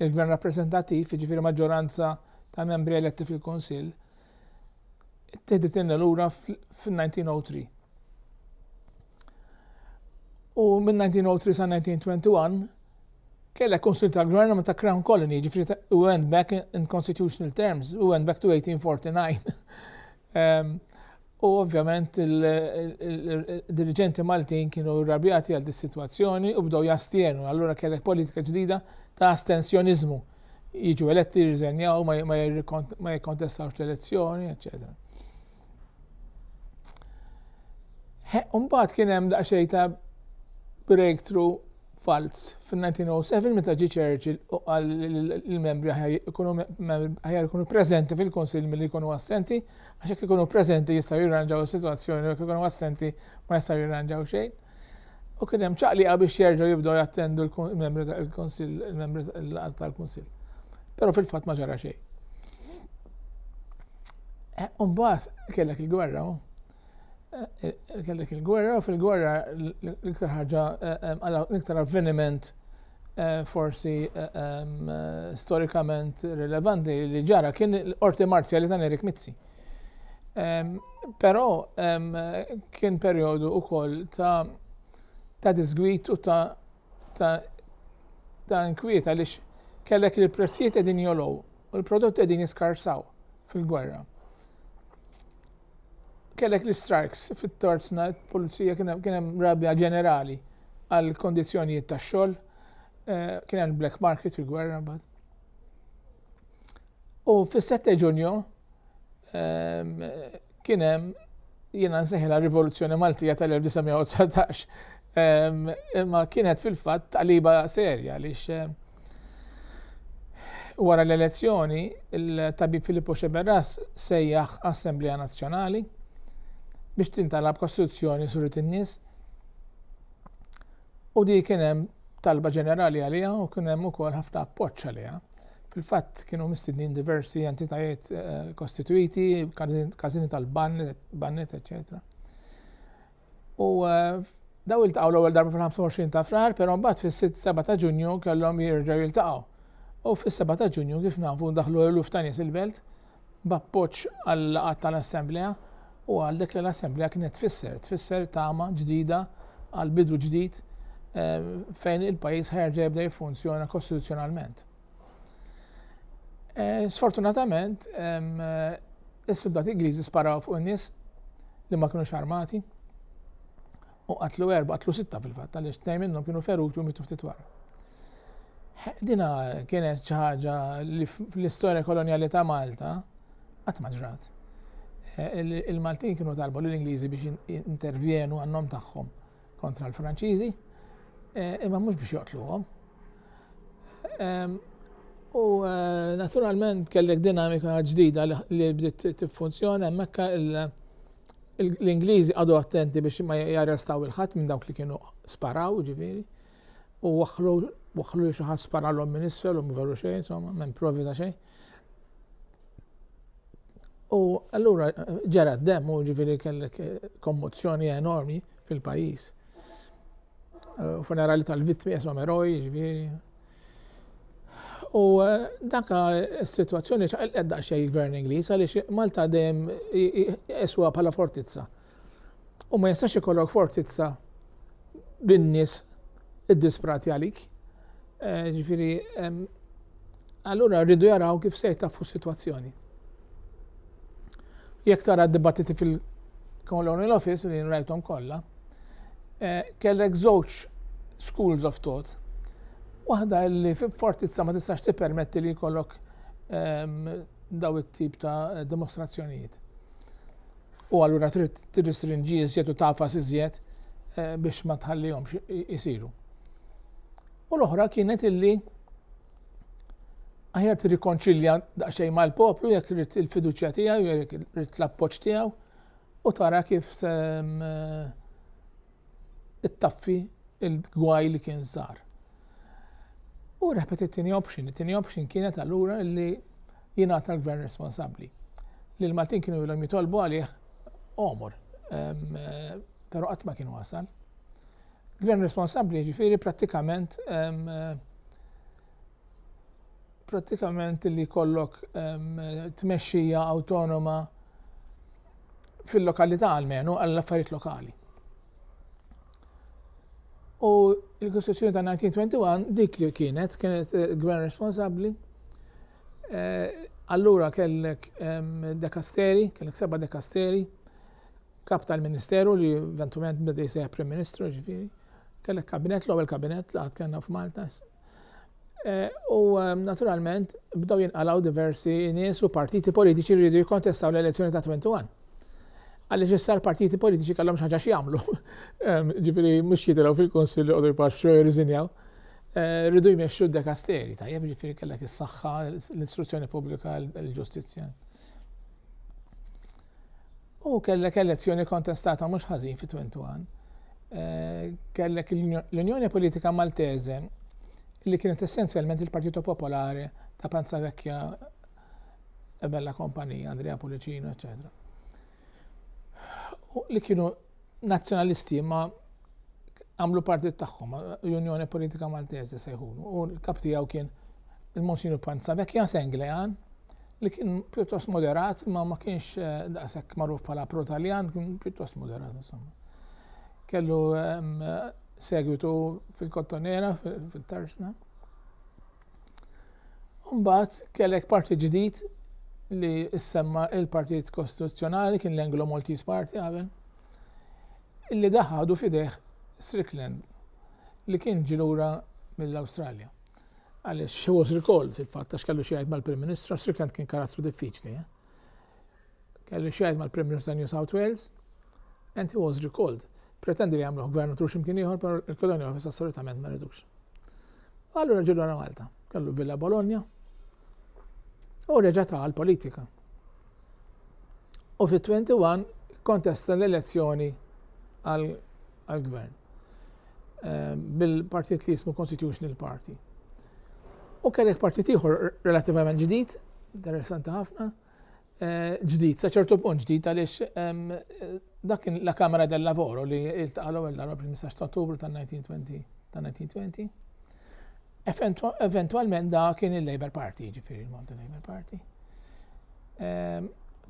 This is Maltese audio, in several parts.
Il-Gvern rappreżentattiv, jiġifieri maġġoranza ta' membri eletti fil-Kunsill, ittieħdilna lura fil-1903. U minn 1903 sa 1921 kellek konsil tal-gvern ma ta' crown colony, ġifri u went back in constitutional terms, u went back to 1849. U ovvjament il-diriġenti Maltin kienu rrabjati għal dis-sitwazzjoni u bdew jastjenu. Allura kellek politika ġdida ta' astensjoniżmu. Jiġu eletti jirriżenjaw, ma jikkontestawx l-elezzjoni, eċċetera. Umbagħad kien hemm daqsxejn ta' breakthrough falz fin-1907 meta ġie Churchill u qal li l-membri aħjar ikunu preżenti fil-Kunsill milli jkunu assenti Għax jekk ikunu preżenti jistgħu jirranġaw is-sitwazzjoni u jekk ikunu assenti ma jistgħu jirranġaw xejn. U kien hemm ċaqliqa biex jerġgħu jibdew jattendu l-membri tal-Kunsill, il-membri tal-Kunsill. Però fil-fatt ma ġara xejn. Eh, Umbat kellek il-gwerra, eh, eh, kellek il-gwerra, fil-gwerra l-iktar ħaġa, l-iktar avveniment forsi storikament rilevanti li ġara kien l-qorti marzjali ta' Erik Mizzi. Però kien perjodu ukoll ta' ta' disgwit u ta' ta' ta' inkwiet għaliex kellek li l-prezzijiet qegħdin jolow u l-prodotti qegħdin jiskarsaw fil-gwerra. Kellek l-istrajks fit-Torsna, il-Pulizija kien hemm rabja ġenerali għal kondizzjonijiet tax-xogħol, kien hemm black market fil-gwerra mbagħad. U fis-7 Ġunju kien hemm jiena nsejħilha rivoluzzjoni Maltija tal-1919 Imma kienet fil-fatt taqliba serja għaliex wara l-elezzjoni il-tabib Filippo Xeberras sejjaħ Assemblea Nazzjonali biex tintalab kostruzzjoni surit in-nies. U di kien hemm talba ġenerali għaliha u kien hemm ukoll ħafna appoġġ għaliha. Fil-fatt kienu mistednin diversi entitajiet eh, kostituiti, każini tal-bannet, eċċetera. U daw iltaqgħu l-ewwel darba fil-25 ta' frar, però mbagħad fis-6-7 ta' Ġunju kellhom jerġgħu jiltaqgħu. U fis-7 ta' Ġunju kif nafu daħlu eluf ta' nies il-belt b'appoġġ għal laqgħat tal-Assemblea u għal dak li l-Assemblea kienet tfisser, tfisser tama ġdida għal bidu ġdid eh, fejn il-pajjiż ħerġa jibda jiffunzjona kostituzzjonalment. Eh, sfortunatament, eh, is-suldati Ingliżi sparaw fuq in-nies li ma kienux armati u qatlu erba, qatlu sitta fil-fatt, għaliex tnejn minnhom kienu feruti u mitu ftit wara. Dina kienet xi ħaġa li fl-istorja koloniali ta' Malta qatt ma ġrat. Eh, Il-Maltin kienu talbu l-Ingliżi biex intervjenu għannom tagħhom kontra l-Franċiżi, eh, imma mhux biex joqtluhom. Ehm, u eh, naturalment kellek dinamika ġdida li bdiet tiffunzjona hemmhekk l-Ingliżi għadu attenti biex ma jarrestaw il-ħadd minn dawk li kienu sparaw, ġifieri, u waħlu waħlu xi ħadd sparalhom minn isfel u mveru xejn, insomma, minn provi ta' xejn. U allura ġara d-dem u ġifiri kellek eh, kommozzjoni enormi fil-pajis. Eh, funerali tal-vittmi jesom eroj, ġifiri. U eh, daka s-situazzjoni ċaqilqed daqxie il-gvern Ingliż għaliex Malta dejjem eswa bħala fortizza. U ma jistax ikollok fortizza bin-nies iddisprati għalik. Eh, ġifiri, allura rridu jaraw kif se jtaffu s-situazzjoni. Jekk tara d-dibattiti fil-Colonial Office li nrajtom kollha, eh, kellek żewġ schools of thought. Waħda li fortizza ma tistax tippermetti li jkollok daw it-tip ta' dimostrazzjonijiet. U allura trid tirristrinġi iżjed u tagħfas iżjed biex ma tħallihomx isiru. U l-oħra kienet illi aħjar tirrikonċilja daqsxejn mal-poplu jekk rrid il-fiduċja tiegħu, jekk rrid l-appoġġ tiegħu u tara kif se ittaffi il-gwaj li kien sar. U reħbet it-tieni option, it-tieni option kienet allura li jingħata l-gvern responsabbli. Li l-Maltin kienu jilhom jitolbu għalih omor, eh, però qatt ma kien wasal. Gvern responsabbli ġifieri prattikament eh, prattikament li jkollok tmexxija awtonoma fil-lokalità għalmenu għall-affarijiet lokali. U l-Kostituzzjoni ta' 1921 dik li kienet, kienet eh, gvern responsabbli. Eh, allura kellek dekasteri, kellek seba dekasteri, kap tal-ministeru li eventualment bdej seħ prim ministru ġifiri. Kellek kabinet, l-ewwel kabinet li għad kellna f'Malta, Eh, u ehm, naturalment bdew jinqalaw diversi nies u partiti politiċi li jridu jikontestaw l-elezzjoni ta' 21. Għaliex issa l-partiti politiċi kellhom xaġa x'jagħmlu. Ehm, ġifieri mhux jitilgħu fil-Kunsill joqogħdu jpaxxu jirriżinjaw. Eh, rridu jmexxu d-dekasteri, tajjeb ġifieri kellek is-saħħa, l-istruzzjoni pubblika, l-ġustizzja. U kellek elezzjoni kontestata mhux ħażin fi 21. Eh, kellek l-Unjoni Politika Maltese li kienet essenzjalment il-Partito Popolare ta' Panza Vecchia e Bella Kompanija, Andrea Pulicino, eccetera li kienu Nazzjonalisti ma għamlu partit tagħhom, Unjoni Politika Maltese sejħunu, u l-kap tiegħu kien il-Monsinu Panza Vekja Senglejan, li kien pjuttost moderat, ma ma kienx eh, daqshekk magħruf bħala pro-Taljan, kien pjuttost moderat insomma. Kellu ehm, segwitu fil-Kottonera, fil-Tarsna. Mbagħad kellek partit ġdid li issemma il-Partit Kostituzzjonali kien l-Anglo Maltese Party qabel illi daħadu fideh Strickland li kien ġilura mill-Awstralja. Għaliex he was recalled fil-fatt għax kellu xi jgħid mal-Prim Ministru, Strickland kien karattru diffiċli. Eh? Kellu x'jgħid mal-Prim Ministru ta' New South Wales, and he was recalled. Pretendi li jagħmluh gvernatur x'imkien ieħor, però il-Colonial Office assolutament ma ridux. Allura ġilu għal Malta, kellu Villa Bologna, u reġa' ta' l-politika. U fit-21 kontesta l-elezzjoni għal-gvern eh, bil-partit li jismu Constitutional Party. U kellek partit ieħor relativament ġdid, interessanti ħafna, ġdid, sa ċertu punt ġdid għaliex dak kien la Kamera del Lavoro li iltaqa' l-ewwel darba fil-15 ta' Ottubru tan-1920 ta' 1920. Eventwalment da kien il-Labour Party, ġifieri il-Malta Labour Party.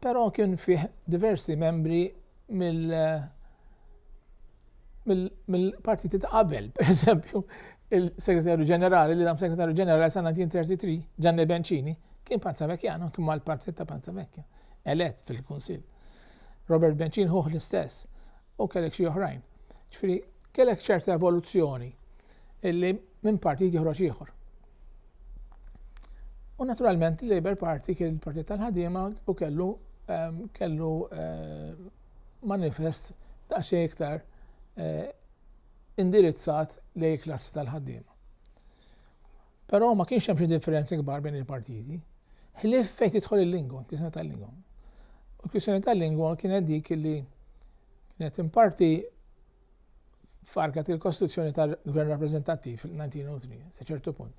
Però kien fih diversi membri mill mill-partiti ta' qabel, per eżempju, il-Segretarju Ġenerali, li dam Segretarju Ġenerali sa' 1933, Gianni Bencini, kien Panzavekjano, kien mal-partit ta' Panzavekja, elett fil-Kunsill. Robert Bencini ħuħ l-istess, u kellek xi oħrajn. Ġifieri, kellek ċerta evoluzzjoni illi minn partit joħroġ ieħor. U naturalment il-Labour Party kien il-partit tal-ħadima u kellu ehm, kellu ehm, manifest daqsxejn iktar indirizzat lejn il-klassi tal-ħaddiema. Però ma kienx hemm xi differenzi kbar bejn il-partiti. Ħlief fejn tidħol il-lingwa, kwistjoni tal-lingwa. U kwistjoni tal-lingwa kienet dik li kienet imparti farket il-kostruzzjoni tal-Gvern Rappreżentattiv fil-1903, sa ċertu punt.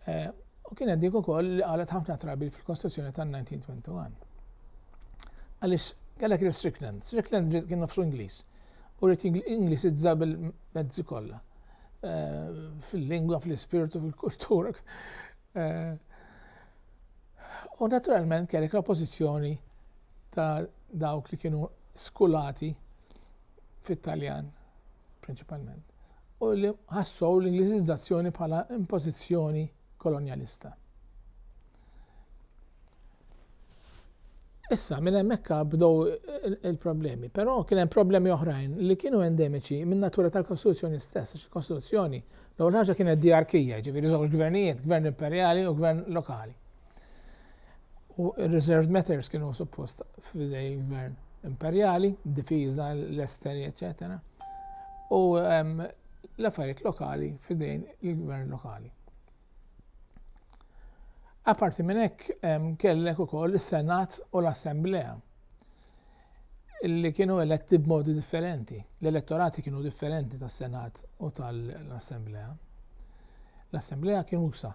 Eh, u kienet dik ukoll li qalet ħafna trabi fil-kostruzzjoni tal-1921. Għaliex kellek il-Strickland, Strickland kien nofsu Ingliż, u rrit Ingliż iżżab il-mezzi kollha eh, fil-lingwa, fil-ispirtu, fil-kultura. Eh, u naturalment kellek l-oppożizzjoni ta' dawk li kienu skulati fit-Taljan prinċipalment, u li ħassow l-Ingliżizzazzjoni bħala impożizzjoni kolonjalista. Issa, minn hemmhekk bdow il-problemi, però kien hemm problemi oħrajn li kienu endemiċi minn natura tal-Kostituzzjoni stess, il-Kostituzzjoni l-ewwel ħaġa kienet diarkija, ġifieri żewġ gvernijiet, gvern imperjali u gvern lokali. U reserved matters kienu suppost f'idej gvern imperjali, difiża, l-esteri, eccetera. U l-affarijiet lokali f'idejn il-gvern lokali. Aparti minn hekk kellek ukoll is-Senat u l-Assemblea. li kienu eletti b'modi differenti. L-elettorati kienu differenti tas-Senat u tal-Assemblea. L-Assemblea kien usa,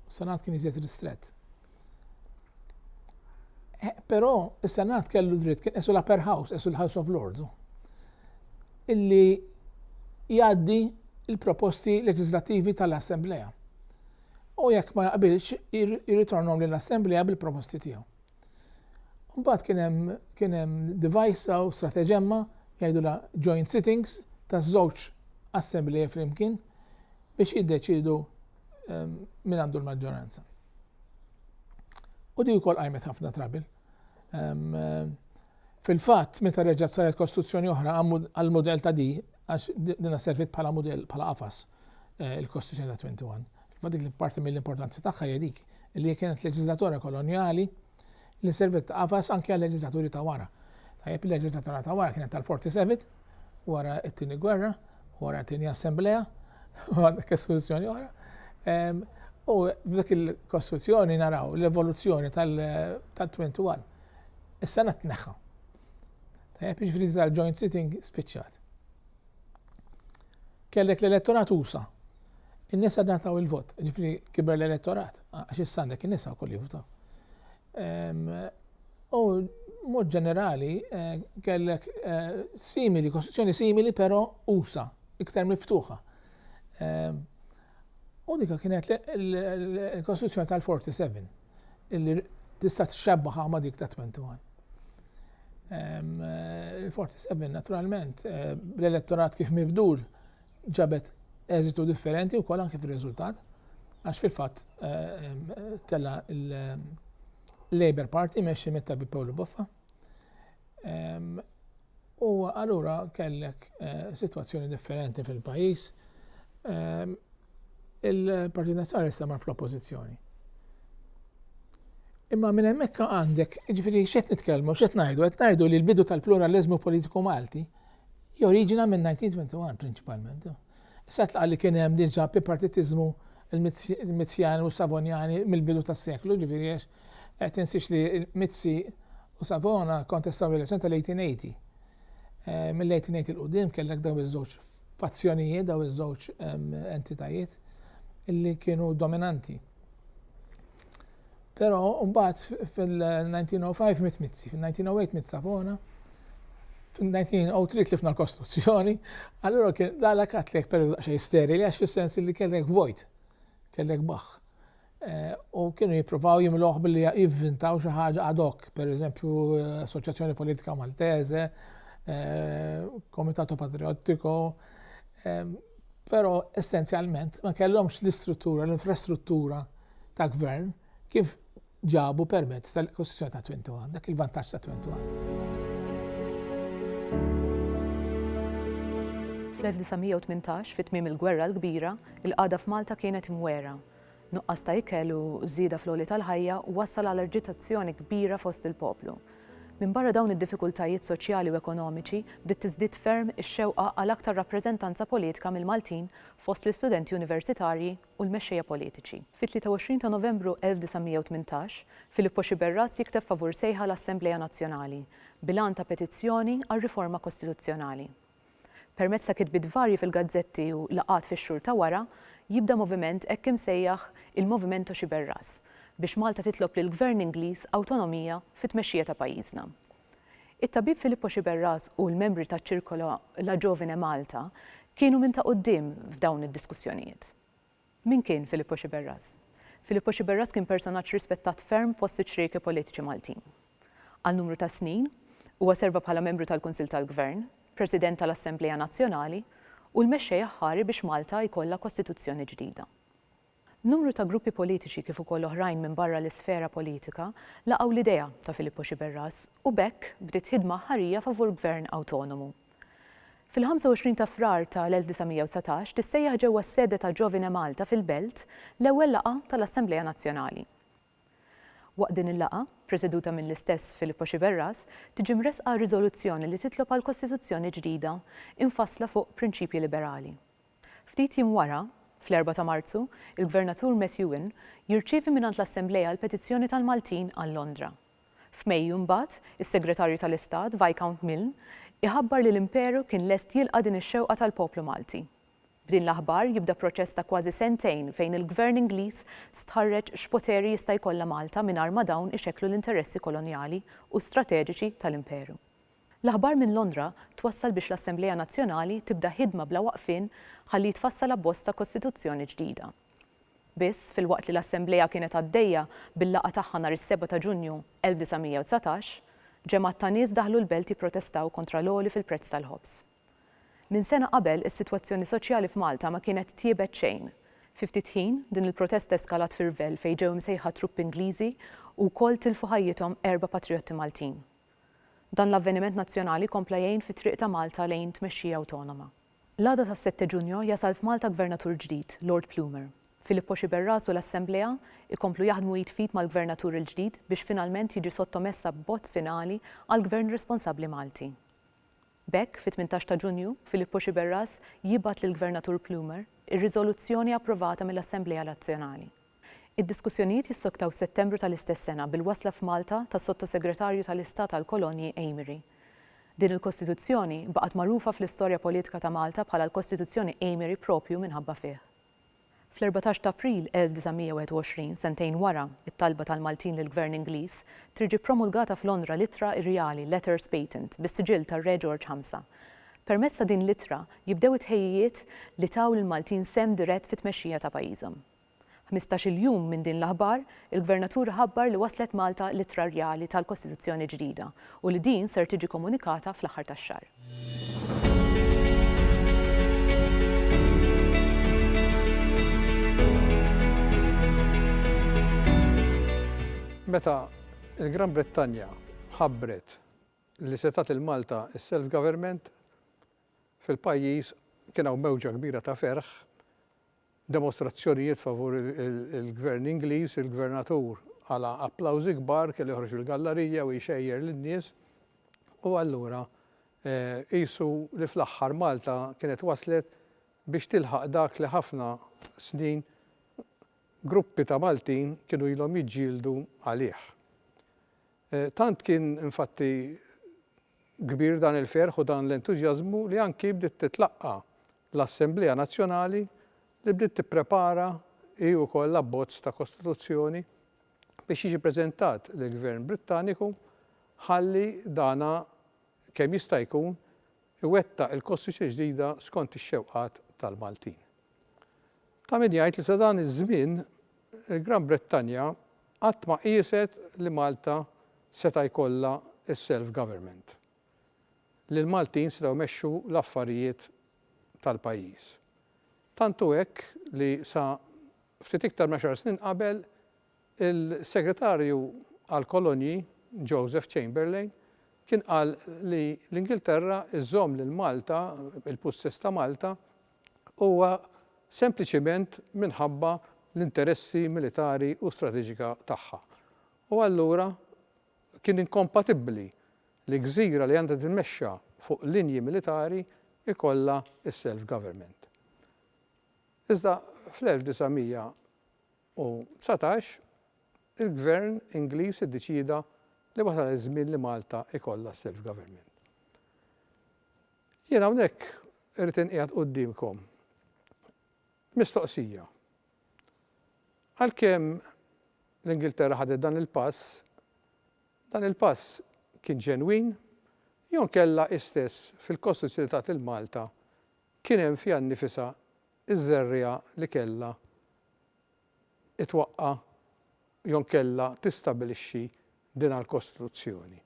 s-Senat kien iżjed ristret. Eh, però s-Senat kellu dritt kien esu l-Upper House, esu l-House of Lords, illi jgħaddi il-proposti leġislativi tal-Assemblea. U jekk ma jaqbilx, jirritornom lill-Assemblea bil-proposti tiegħu. Mbagħad kien hemm kien hemm device u strateġemma jgħidulha joint sittings taż-żewġ assembleji flimkien biex jiddeċidu ehm, min għandu l-maġġoranza. U di wkoll qajmet ħafna trabil. Ehm, Fil-fatt, meta reġgħet saret kostruzzjoni oħra għall-mudell ta' di, għax dinha serviet bħala mudell, bħala qafas, il-kostruzzjoni ta' Twenty One, fil-fatt dik li parti mill-importanza tagħha hija dik li hija kienet leġiżlatura kolonjali li serviet ta' qafas anki għal-leġiżlaturi ta' wara. Tajjeb, il-leġiżlatura ta' wara kienet tal-Forty Seven, wara t-Tieni Gwerra, wara t-Tieni Assemblea, u għandek kostruzzjoni oħra. U f'dik il-kostruzzjoni naraw l-evoluzzjoni tal-Twenty One. Is-Senat tneħħa. Tajjeb, jiġifieri tal-joint sitting spiċċat. Kellek l-elettorat usa. In-nisa nataw il-vot, ġifri kiber l-elettorat, għax is-sandek in-nisa u kolli votaw. Ehm, u mod ġenerali eh, kellek eh, simili, kostituzzjoni simili però usa, iktar miftuħa. Ehm, u dika kienet l-kostituzzjoni tal-47. illi tista' txebbaha ma' dik ta' 21. Il-47 naturalment eh, l-elettorat kif mibdul ġabet eżitu differenti wkoll anke fir-riżultat għax fil-fatt eh, tella l-Labour Party meċi mit-tabib Paolo Boffa. U allura kellek eh, situazzjoni differenti fil-pajis. Il-Partit Nazzjonali sema fl-oppożizzjoni. Imma minn hemmhekk għandek, ġifieri x'qed nitkellmu, x'qed ngħidu, qed ngħidu li l-bidu tal-pluralizmu politiku Malti joriġina minn 1921 prinċipalment. Issa tlaqa li kien hemm diġà bi partitiżmu il-Mizzjani u Savonjani mill-bidu tas-seklu, ġifieri għax Eh, tinsiex li Mizzi u Savona kontestaw l-elezzjoni tal-1880. Eh, mill-1880 il-qudiem kellek daw iż-żewġ fazzjonijiet, daw iż-żewġ entitajiet li kienu dominanti. Pero mbagħad fil-1905 mit Mizzi, fil-1908 mit Savona, fil-1903 tlifna l-Kostituzzjoni, allura kien dalek għatlek periodu daqsxejn sterili għax fis-sens li kellek vojt, kellek baħ. u kienu jippruvaw jimluħ billi jivvintaw xi ħaġa ad hoc, per eżempju Assoċjazzjoni Politika Maltese, eh, Komitato Patriottico, eh, però essenzjalment ma kellhomx l-istruttura, l-infrastruttura ta' gvern kif ġabu permezz tal-Kostituzzjoni ta' 21, dak il-vantaġġ ta' 21. Fl-1918, fit-tmiem il-Gwerra l-Kbira, il-qagħda f'Malta kienet imwera Nuqqas ta' ikel u żieda fl-għoli tal-ħajja wassal għal aġitazzjoni kbira fost il-poplu. Minbarra dawn id-diffikultajiet soċjali u ekonomiċi, bdiet tiżdied ferm ix-xewqa għal aktar rappreżentanza politika mill-Maltin fost l-istudenti universitarji u l-mexxejja politiċi. Fit-23 ta' Novembru 1918, Filippo Sciberras jikteb favur sejħa l-Assemblea Nazzjonali, bil-għan ta' petizzjoni għal riforma kostituzzjonali. Permezz ta' kitbiet varji fil-gazzetti u laqgħat fix-xhur ta' wara, jibda moviment hekk imsejjaħ il-Movimento Sciberras biex Malta titlob lill-Gvern Ingliż awtonomija fit-tmexxija ta' pajjiżna. It-tabib Filippo Sciberras u l-membri taċ-Circolo La Giovine Malta kienu minn ta' quddiem f'dawn id-diskussjonijiet. Min kien Filippo Sciberras? Filippo Sciberras kien personaġġ rispettat ferm fost iċ-ċrieki politiċi Maltin. Għal numru ta' snin, huwa serva bħala membru tal-Kunsill tal-Gvern, President tal-Assemblea Nazzjonali u l-mexxej aħħari biex Malta jkollha Kostituzzjoni ġdida. Numru ta' gruppi politiċi kif ukoll oħrajn minn barra l-isfera politika laqgħu l-idea ta' Filippo Sciberras u b'hekk bdiet ħidma aħħarija favur Gvern awtonomu. Fil-25 ta' Frar ta' l-1919 tissejjaħ ġewwa s-sede ta' Giovine Malta fil-Belt l-ewwel laqgħa ta' l-Assemblea Nazzjonali. Waqt din il-laqgħa, preseduta mill-istess Filippo Sciberras, tiġi mressqa riżoluzzjoni li titlob għal Kostituzzjoni ġdida imfassla fuq prinċipji liberali. Ftit jiem wara, fl-Erbgħa ta' Marzu, il-Gvernatur Methuen jirċievi mingħand l-Assemblea l-petizzjoni tal-Maltin għal Londra. F'Mejju mbagħad, is-Segretarju tal-Istat, Viscount Milne, iħabbar li l-Imperu kien lest jilqa' din ix-xewqa tal-poplu Malti. B'din l-aħbar jibda proċess ta' kważi sentejn fejn il-Gvern Ingliż stħarreġ x'poteri jista' jkollha Malta mingħajr ma dawn ixekklu l-interessi kolonjali u strateġiċi tal-Imperu. L-aħbar minn Londra twassal biex l-Assemblea Nazzjonali tibda ħidma bla waqfien ħalli jitfassal abbozz ta' Kostituzzjoni ġdida. Biss, filwaqt li l-Assemblea kienet għaddejja bil-laqgħa tagħha nhar is-seba' ta' Ġunju 1919, ġemgħat ta' nies daħlu l-belt jipprotestaw kontra l-għoli fil-prezz tal-ħobż. Minn sena qabel, is-sitwazzjoni soċjali f'Malta ma kienet tjiebet xejn. Fi ftit ħin, din il-protesta eskalat fi rvell fejn ġew imsejħa truppi Ingliżi u wkoll tilfu ħajjithom erba' patrijotti Maltin. Dan l-avveniment nazzjonali kompla jgħin fit-triq ta' Malta lejn tmexxija awtonoma. L-għada tas-sette Ġunju jasal f'Malta Gvernatur ġdid, Lord Plumer. Filippo Sciberras u l-Assemblea jkomplu jaħdmu id f'id mal-Gvernatur il-ġdid biex finalment jiġi sottomess abbozz finali għal Gvern responsabbli Malti. B'hekk, fit-tmintax ta' Ġunju, Filippo Sciberras jibgħat lill-Gvernatur Plumer ir-riżoluzzjoni approvata mill-Assemblea Nazzjonali. Id-diskussjonijiet jissoktaw f'Settembru tal-istess sena bil-wasla f'Malta tas-Sottosegretarju tal-Istat għall-Kolonji Amery. Din il-Kostituzzjoni baqgħet magħrufa fl-istorja politika ta' Malta bħala l-Kostituzzjoni Amery proprju minħabba fih. Fl-erbatax ta' April 1921, sentejn wara t-talba tal-Maltin lill-Gvern Ingliż, trid ġie ppromulgata f'Londra l-Ittra Irjali, Letters Patent, bis-siġill tar-Re Ġorġ Ħamsa. Permezz ta' din l-ittra jibdew it-tħejjijiet li taw lill-Maltin sehem dirett fit-tmexxija ta' pajjiżhom. Ħmistax-il jum minn din l-aħbar, il-Gvernatur iħabbar li waslet Malta l-Ittra Rjali tal-Kostituzzjoni ġdida u li din ser tiġi komunikata fl-aħħar tax-xahar. Meta l-Gran Brittanja ħabbret li se tagħti lil Malta s-self-government, fil-pajjiż kien hawn mewġa kbira ta' ferħ, demostrazzjonijiet favur il-Gvern Ingliż, il-Gvernatur għala applawżi kbar, kellu joħroġ fil-gallarija u jxejjer lin-nies, u allura qisu li fl-aħħar Malta kienet waslet biex tilħaq dak li ħafna snin gruppi ta' Maltin kienu ilhom jiġġieldu għalih. Tant kien infatti Kbir dan il-ferħ u dan l-entużjażmu li anki bdiet titlaqqa' l-Assemblea Nazzjonali li bdiet tipprepara hi wkoll l-abbozz ta' Kostituzzjoni biex jiġi preżentat lill-Gvern Brittaniku ħalli dana kemm jista' jkun iwettaq il-Kostituzzjoni ġdida skont ix-xewqat tal-Maltin. Ta' min jgħid li sa dan iż-żmien il-Gran Brittanja qatt ma qieset li Malta seta' jkollha s-self government, li l-Maltin setgħu jmexxu l-affarijiet tal-pajjiż. Tant hu hekk li sa ftit iktar minn għaxar snin qabel il-Segretarju għall-Kolonji Joseph Chamberlain kien qal li l-Ingilterra żżomm lil Malta, il-pussess ta' Malta, huwa sempliċiment minħabba l-interessi militari u strateġika tagħha. U allura kien inkompatibbli li gżira li għandha titmexxa fuq linji militari jkollha s-self-government. Iżda fl-1919 il-Gvern Ingliż iddeċieda li wasal iż-żmien li Malta jkollha s-self-government. Jien hawnhekk irrid inqiegħed quddiemkom mistoqsija. Għalkemm l-Ingilterra ħadet dan il-pass, dan il-pass kien ġenwin jew inkella istess fil-Kostituzzjoni li tat lil Malta kien hemm fiha nnifisha ż-żerriegħa li kellha twaqqa' jew inkella tistabilixxi dinha l-Kostituzzjoni?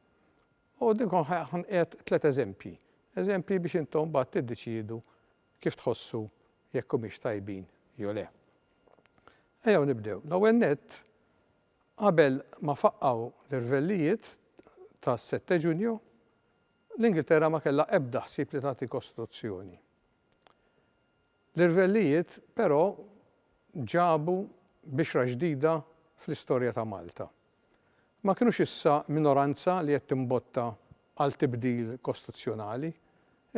U din kont ħanqed tliet eżempji, eżempji biex intom mbagħad tiddeċiedu kif tħossu jekk humiex tajbin jew le. Ejjew nibdew. L-ewwel nett, qabel ma faqqgħu l-irvellijiet tas-sette Ġunju, l-Ingilterra ma kellha ebda ħsieb li tagħti kostituzzjoni. L-irvellijiet, però, ġabu bixra ġdida fl-istorja ta' Malta. Ma kinux issa minoranza li qed timbotta għal tibdil kostuzzjonali,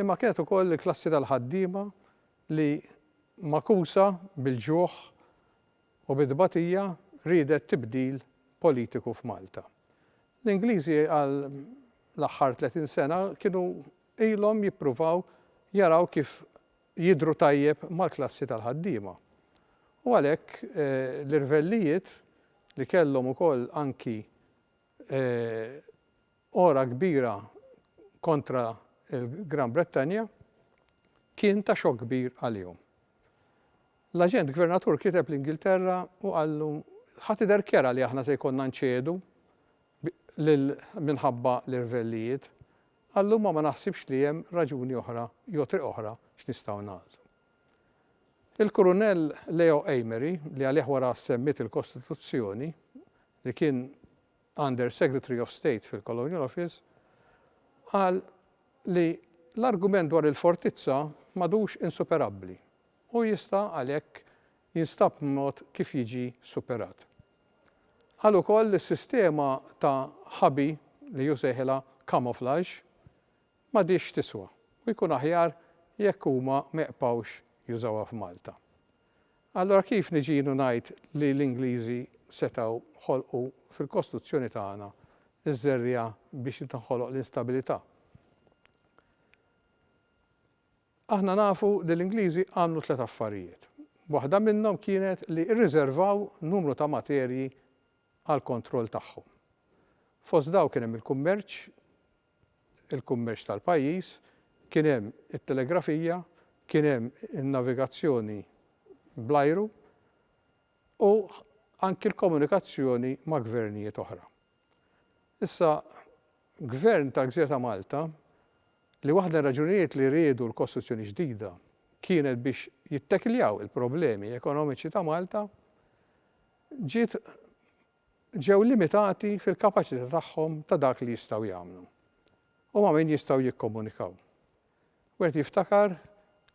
imma kienet ukoll il-klassi tal-ħaddiema li, magħkusa bil-ġuħ u bit-tbatija, riedet tibdil politiku f'Malta. L-Ingliżi għal l-aħħar tletin sena kienu ilhom jippruvaw jaraw kif jidhru tajjeb mal-klassi tal-ħaddiema u għalhekk l-irvellijiet li kellhom ukoll anki għora kbira kontra l-Gran Brittanja kien ta' xokk kbir għalihom. L-aġent gvernatur kiteb l-Ingilterra u qallu ħa tidher kera li aħna se jkollna nċedu minħabba l-irvellijiet Għal-lum ma naħsibx li hemm raġuni oħra jew triq oħra x'nistgħu nagħżlu. Il-Kurunell Leo Amery, li għalih wara semmiet il-Kostituzzjoni, li kien Under Secretary of State fil-Colonial Office, qal li l-argument dwar il-fortizza m'għadux insuperabbli u jista' għalhekk jinstab mod kif jiġi superat. Qal ukoll li s-sistema ta' ħabi, li hu sejħilha camouflage, m'għadhiex tiswa u jkun aħjar jekk huma ma jqpgħux jużawha f'Malta. Allura kif niġi jien u ngħid li l-Ingliżi setgħu ħolqu fil-Kostituzzjoni tagħna ż-żerriegħa biex tinħoloq l-instabilità? Aħna nafu li l-Ingliżi għamlu tliet affarijiet. Waħda minnhom kienet li rriżervaw numru ta' materji għall-kontroll tagħhom. Fost dawk kien hemm il-kummerċ, il-kummerċ tal-pajjiż, kien hemm it-telegrafija, kien hemm in-navigazzjoni bl-ajru u anki l-komunikazzjoni ma' gvernijiet oħra. Issa, Gvern tal-Gżira ta' Malta, li waħda r-raġunijiet li riedu l-kostruzzjoni ġdida kienet biex jittekiljaw il-problemi ekonomiċi ta' Malta, ġiet ġew limitati fil-kapaċità tagħhom ta' dak li jistgħu jagħmlu u ma' min jistgħu jikkomunikaw. Wieħed jiftakar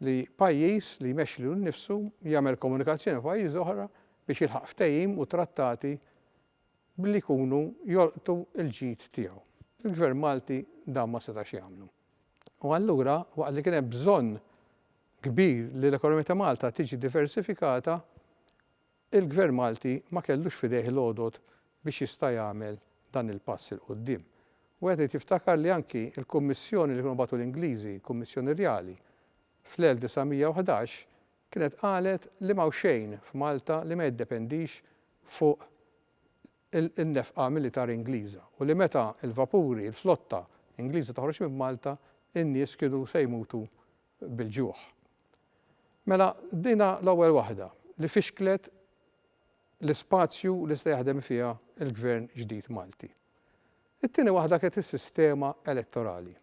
li pajjiż li jmexxi lilu nnifsu jagħmel komunikazzjoni ma' pajjiżi oħra biex jilħaq ftehim u trattati billi jkunu jolqtu l-ġid tiegħu. Il-Gvern Malti dan ma setax jagħmlu. U allura, waqt li kien hemm bżonn kbir li l-ekonomija ta' Malta tiġi diversifikata, il-Gvern Malti ma kellux f'idejh l-għodod biex jista' jagħmel dan il-pass 'il quddiem. Wieħed irid jiftakar li anki l-kummissjoni li kienu bagħtu l-Ingliżi, kummissjoni rjali, fl-1911, kienet qalet li m'hawn xejn f'Malta li ma jiddependix fuq in-nefqa militari Ingliża u li meta l-vapuri, il-flotta Ingliża toħroġ minn Malta, in-nies kienu se jmutu bil-ġuħ. Mela dinha l-ewwel waħda li fixklet l-ispazju li se jaħdem fiha l-Gvern ġdid Malti. It-tieni waħda kienet is-sistema elettorali.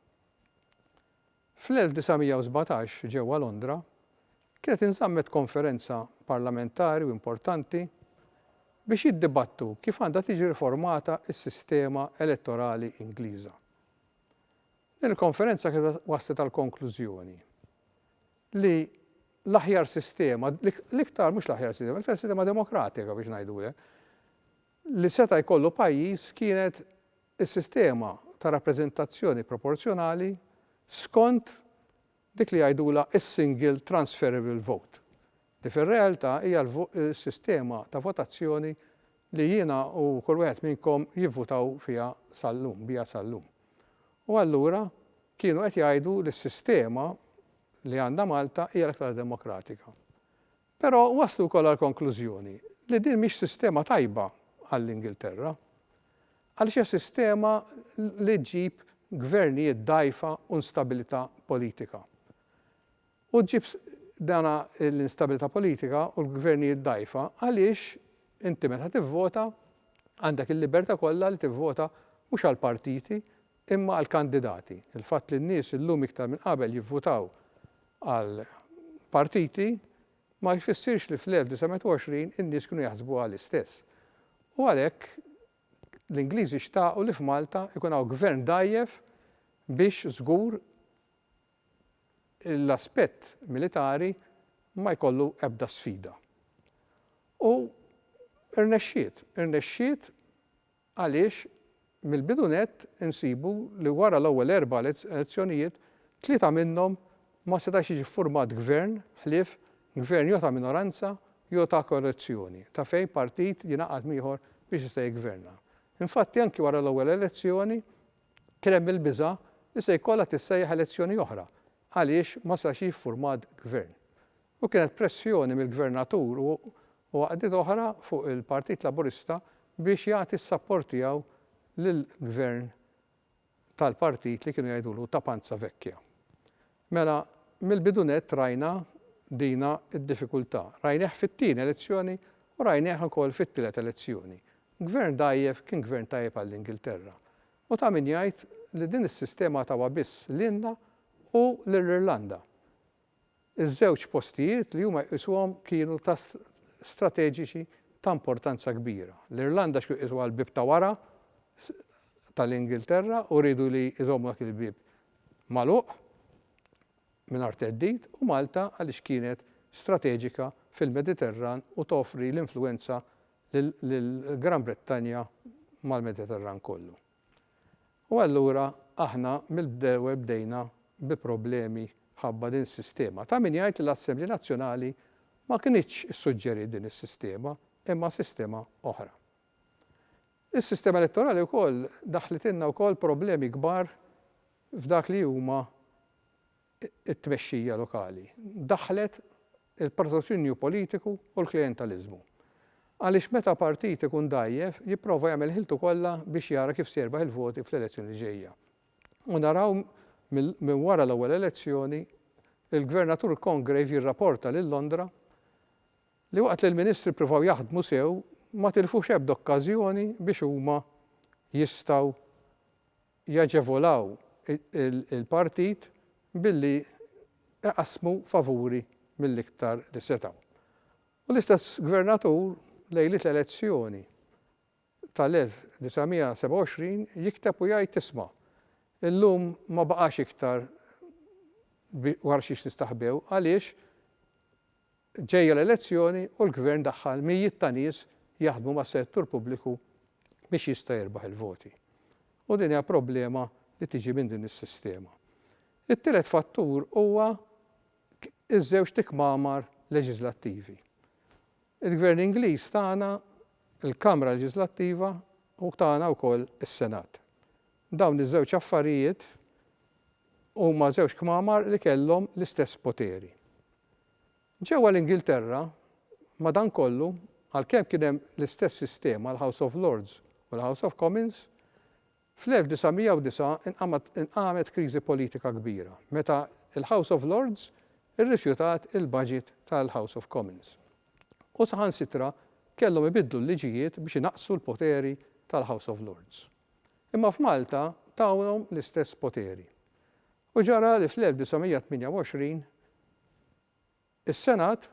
Fl-1917 ġewwa Londra kienet inżammet konferenza parlamentari u importanti biex jiddibattu kif għandha tiġi riformata s-sistema elettorali Ingliża. Din il-konferenza kienet wasslet għall-konklużjoni li l-aħjar sistema, l-iktar mhux l-aħjar sistema, l-iktar sistema demokratika biex ngħidulek, li seta' jkollu pajjiż kienet is-sistema ta' rappreżentazzjoni proporzjonali skont dik li jgħidulha s-single transferable vote, li fir-realtà hija s-sistema ta' votazzjoni li jiena u kull wieħed minnkom jivvutaw fiha sal-lum, biha sal-lum. U allura kienu qed jgħidu li s-sistema li għandha Malta hija l-aktar demokratika. Però waslu wkoll għall-konklużjoni li din mhix sistema tajba għall-Ingilterra għaliex hija sistema li ġġib gvernijiet dgħajfa u instabilità politika. U ġġib dana l-instabilità politika u l-gvernijiet dgħajfa għaliex inti meta tivvota għandek il-libertà kollha li tivvota mhux għall-partiti Imma għall-kandidati, il-fatt li n-nies illum iktar minn qabel jivvutaw għal partiti ma jfissirx li fl-1920 in-nies kienu jaħsbuha l-istess. U għalhekk l-Ingliżi xtaqu li f'Malta jkun hawn gvern dgħajjef biex żgur l-aspett militari ma jkollu ebda sfida. U rnexxiet, irnexxiet Għaliex, mill-bidu nett insibu li wara l-ewwel erba' elezzjonijiet, tlieta minnhom ma setax jiġi ffurmat gvern ħlief gvern jew ta' minoranza jew ta' koalizzjoni ta' fejn partit jingħaqad m'ieħor biex jista' jiggverna. Infatti anki wara l-ewwel elezzjoni kien hemm il-biża' li se jkollha tissejjaħ elezzjoni oħra għaliex ma setax jiġi ffurmat gvern. U kienet pressjoni mill-Gvernatur u u għaqdiet oħra fuq il-Partit Laburista biex jagħti s-sapport tiegħu lill-Gvern tal-partit li kienu jgħidulu ta' panza vecchia. Mela, mill-bidu nett rajna dina d-diffikultà. Rajnieh fit-tieni elezzjoni u rajnieh ukoll fit-tielet elezzjoni. Gvern dgħajjef kien Gvern tajjeb għall-Ingilterra. U ta' min jgħid li din is-sistema tawha biss lilna u lir-Irlanda. Iż-żewġ postijiet li huma jqisuhom kienu ta' strateġiċi ta' importanza kbira. L-Irlanda x'kienu jqisuha l-bieb ta' wara tal-Ingilterra u riedu li jżommu dak il-bieb magħluq mingħajr theddid u Malta għaliex kienet strateġika fil-Mediterran u toffri l-influwenza lill-Gran Brittanja mal-Mediterran kollu. U allura aħna mill-bdew bdejna bi problemi mħabba din is-sistema. Ta' min jgħid li l-Assemblea Nazzjonali ma kinitx issuġġeriet din is-sistema imma sistema oħra. Is-sistema elettorali wkoll daħħlitilna wkoll problemi kbar f'dak li huma it-tmexxija lokali daħħlet il-partotinju politiku u l-klijentaliżmu. Għaliex meta partit ikun dgħajjef jipprova jagħmel ħiltu kollha biex jara kif se jirbaħ il-voti fl-elezzjoni li ġejja. U naraw minn wara l-ewwel elezzjoni il-Gvernatur Congreve jirraporta lil Londra li waqt li l-Ministri ppruvaw jaħdmu sew ma tilfux ebda okkażjoni biex huma jistgħu jaġevolaw il-partit billi iqassmu favuri mill-iktar li setgħu. U l-istess Gvernatur lejliet l-elezzjoni tal-1927 jikteb u jgħid isma', illum ma baqax iktar wara xiex nistaħbew għaliex ġejja l-elezzjoni u l-Gvern daħħal mijiet ta' nies jaħdmu mas-settur pubbliku biex jista' jirbaħ il-voti. U din hija problema li tiġi minn din is-sistema. It-tielet fattur huwa ż-żewġt ikmamar leġiżlattivi. Il-Gvern Ingliż tagħna l-Kamra Leġiżlattiva u tagħna wkoll is-Senat. Dawn iż-żewġ affarijiet huma żewġ kmamar li kellhom l-istess poteri. Ġewwa l-Ingilterra, madankollu, għalkemm kien hemm l-istess sistema, l-House of Lords u l-House of Commons, fl-1909 inqamet kriżi politika kbira meta l-House of Lords irrifjutat il-baġit tal-House of Commons u saħansitra kellhom ibiddlu l-liġijiet biex inaqqsu l-poteri tal-House of Lords. imma f'Malta tawhom l-istess poteri. U ġara li fl-1928 is-Senat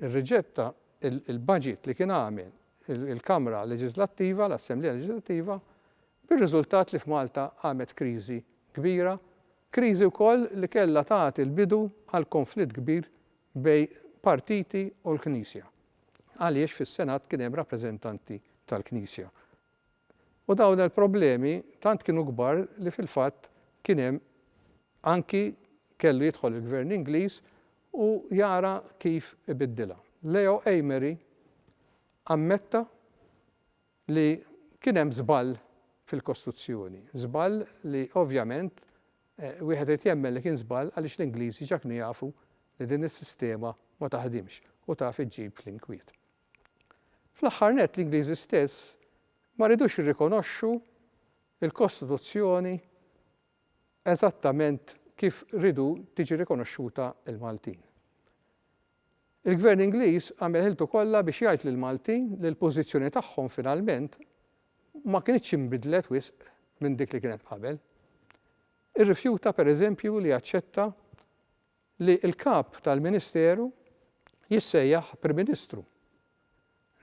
irriġetta l-baġit li kien għamel il-Kamra Leġiżlattiva, l-Assemblea Leġiżlattiva, bir-riżultat li f'Malta qamet kriżi kbira, kriżi wkoll li kellha tagħti l-bidu għal konflitt kbir bejn partiti u l-Knisja, għaliex fis-Senat kien hemm rappreżentanti tal-Knisja. U dawn il-problemi tant kienu kbar li fil-fatt kien hemm anki kellu jidħol il-Gvern Ingliż u jara kif ibiddilha. Leo Amery ammetta li kien hemm żball fil-kostruzzjoni, żball li ovvjament wieħed irid jemmen li kien żball għaliex l-Ingliżi ġa knu jafu li din is-sistema ma taħdimx u taf iġġib l-inkwiet. Fl-aħħar nett l-Ingliżi stess ma ridux jirrikonoxxu l-Kostituzzjoni eżattament kif ridu tiġi rikonoxxuta l-Maltin. Il-Gvern Ingliż għamel ħiltu kollha biex jgħid lill-Maltin li l-pożizzjoni tagħhom finalment ma kinitx inbidlet wisq minn dik li kienet qabel. Irrifjuta pereżempju li jaċċetta li l-Kap tal-Ministeru jissejjaħ Prim Ministru.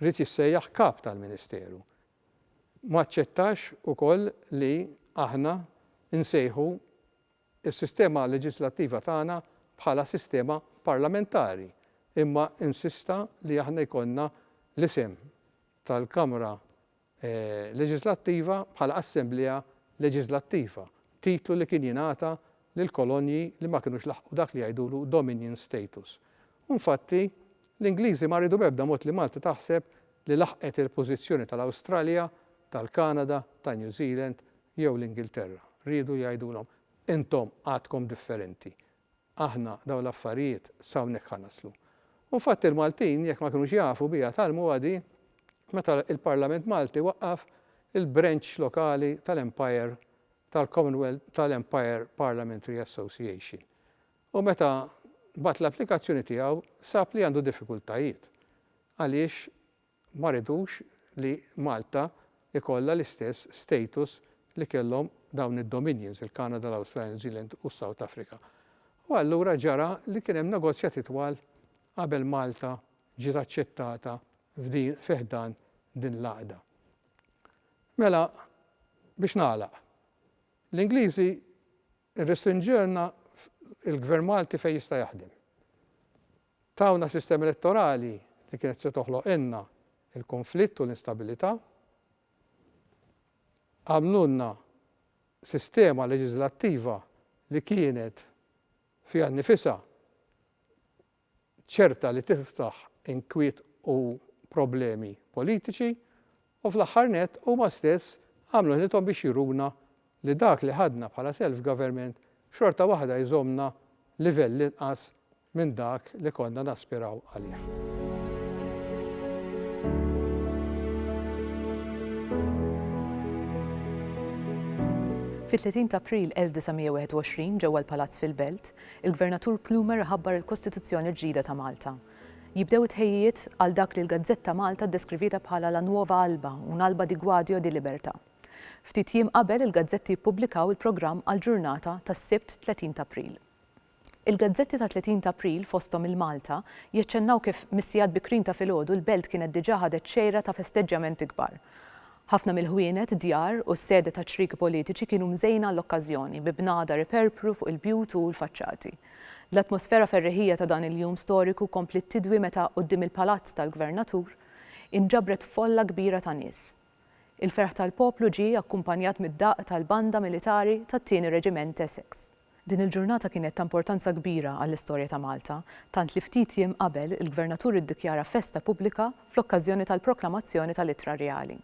Ried jissejjaħ Kap tal-Ministeru. Ma aċċettax ukoll li aħna nsejħu s-sistema leġislattiva tagħna bħala sistema parlamentari imma insista li aħna jkollna l-isem tal-Kamra leġiżlattiva bħala assemblea leġiżlattiva, titlu li kien jingħata lill-kolonji li ma kinux laħqu dak li jgħidulu dominion status. U nfatti, l-Ingliżi ma riedu b'ebda mod li Malta taħseb li laħqet il-pożizzjoni tal-Awstralja, tal-Kanada, ta' New Zealand jew l-Ingilterra. Riedu jgħidulhom, intom għadkom differenti. aħna dawn l-affarijiet s'hawnhekk ħa naslu. U nfatt il-Maltin jekk ma kinux jafu biha tgħallmuha di meta l-Parlament Malti waqqaf il-branch lokali tal-Empire tal-Commonwealth tal-Empire Parliamentary Association. U meta bagħat l-applikazzjoni tiegħu sab li għandu diffikultajiet. Għaliex Ma rridux li Malta jkollha l-istess status li kellhom dawn id-dominions, il-Kanada, l-Awstralja, New Zealand u s-South Africa. U allura ġara li kien hemm negozjati twal qabel Malta ġiet aċċettata f'din fi ħdan din l-għaqda. Mela, biex nagħlaq, l-Ingliżi Irrestrinġilna l-Gvern Malti fejn jista' jaħdem. Tawna sistema elettorali li kienet se toħloqilna l-kunflitt u l-instabilità. Għamlulna sistema leġiżlattiva li kienet fiha nnifisha ċerta li tiftaħ inkwiet u problemi politiċi, u fl-aħħar nett huma stess għamlu ħilithom biex juruna li dak li ħadna bħala self government xorta waħda jżommna livell inqas minn dak li konna naspiraw għalih. Fit-30 t'April 1921 ġewwa l-Palazz fil-Belt, Il-Gvernatur Plumer iħabbar il-Kostituzzjoni l-ġdida ta' Malta. Jibdew it-tħejjijiet għal dak li l-gazzetta Malta ddeskrivietha bħala la nuova alba, un'alba di guadio e di libertà. Ftit jiem qabel il-gazzetti jippubblikaw il-programm għall-ġurnata tas-Sibt 30 t'April. Il-gazzetti ta' 30 t'April, fosthom il-Malta, jaċċennaw kif mis-sigħat bikrin ta' filgħodu l-belt kienet diġà ħadet xejra ta' festeġġjamenti kbar. Ħafna mill-ħwienet, djar u s-sede taċ-ċrieki politiċi kienu mżejna għall-okkażjoni, bi bnadar iperpru fuq il-bjut u l-faċċati. L-atmosfera ferrieħija ta' dan il-jum storiku kompliet tidwi meta, quddiem il-Palazz tal-Gvernatur, inġabret folla kbira ta' nies. Il-ferħ tal-poplu ġie akkumpanjat mid-daqq tal-banda militari tat-Tieni Reġiment Essex. Din il-ġurnata kienet ta' importanza kbira għall-istorja ta' Malta, tant li ftit jiem qabel il-Gvernatur iddikjara festa pubblika fl-okkażjoni tal-proklamazzjoni tal-Ittra Rjali.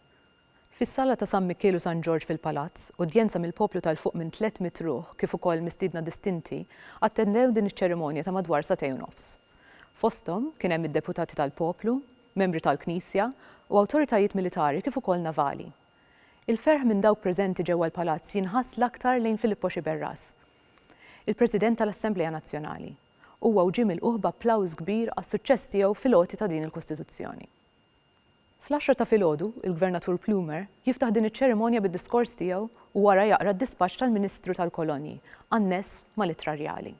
Fis-Sala ta' San Mikiel u San Ġorġ fil-Palazz, udjenza mill-poplu ta' 'l fuq minn tlett mitt ruħ kif ukoll mistiedna distinti attendew din iċ-ċerimonja ta' madwar sagħtej u nofs. Fosthom, kien hemm id-deputati tal-poplu, membri tal-Knisja u awtoritajiet militari kif ukoll navali. Il-ferħ minn dawk preżenti ġewwa l-Palazz jinħass l-aktar lejn Filippo Sciberras, il-President tal-Assemblea Nazzjonali. Huwa u ġie milqugħ b'applawż kbir għas-suċċess tiegħu fil-għoti ta' din il-Kostituzzjoni. Fl-għaxra ta' filgħodu, il-Gvernatur Plumer jiftaħ din iċ-ċerimonja bid-diskors tiegħu u wara jaqra d-dispaċċ tal-Ministru tal-Kolonji, anness mal-ittra rjali.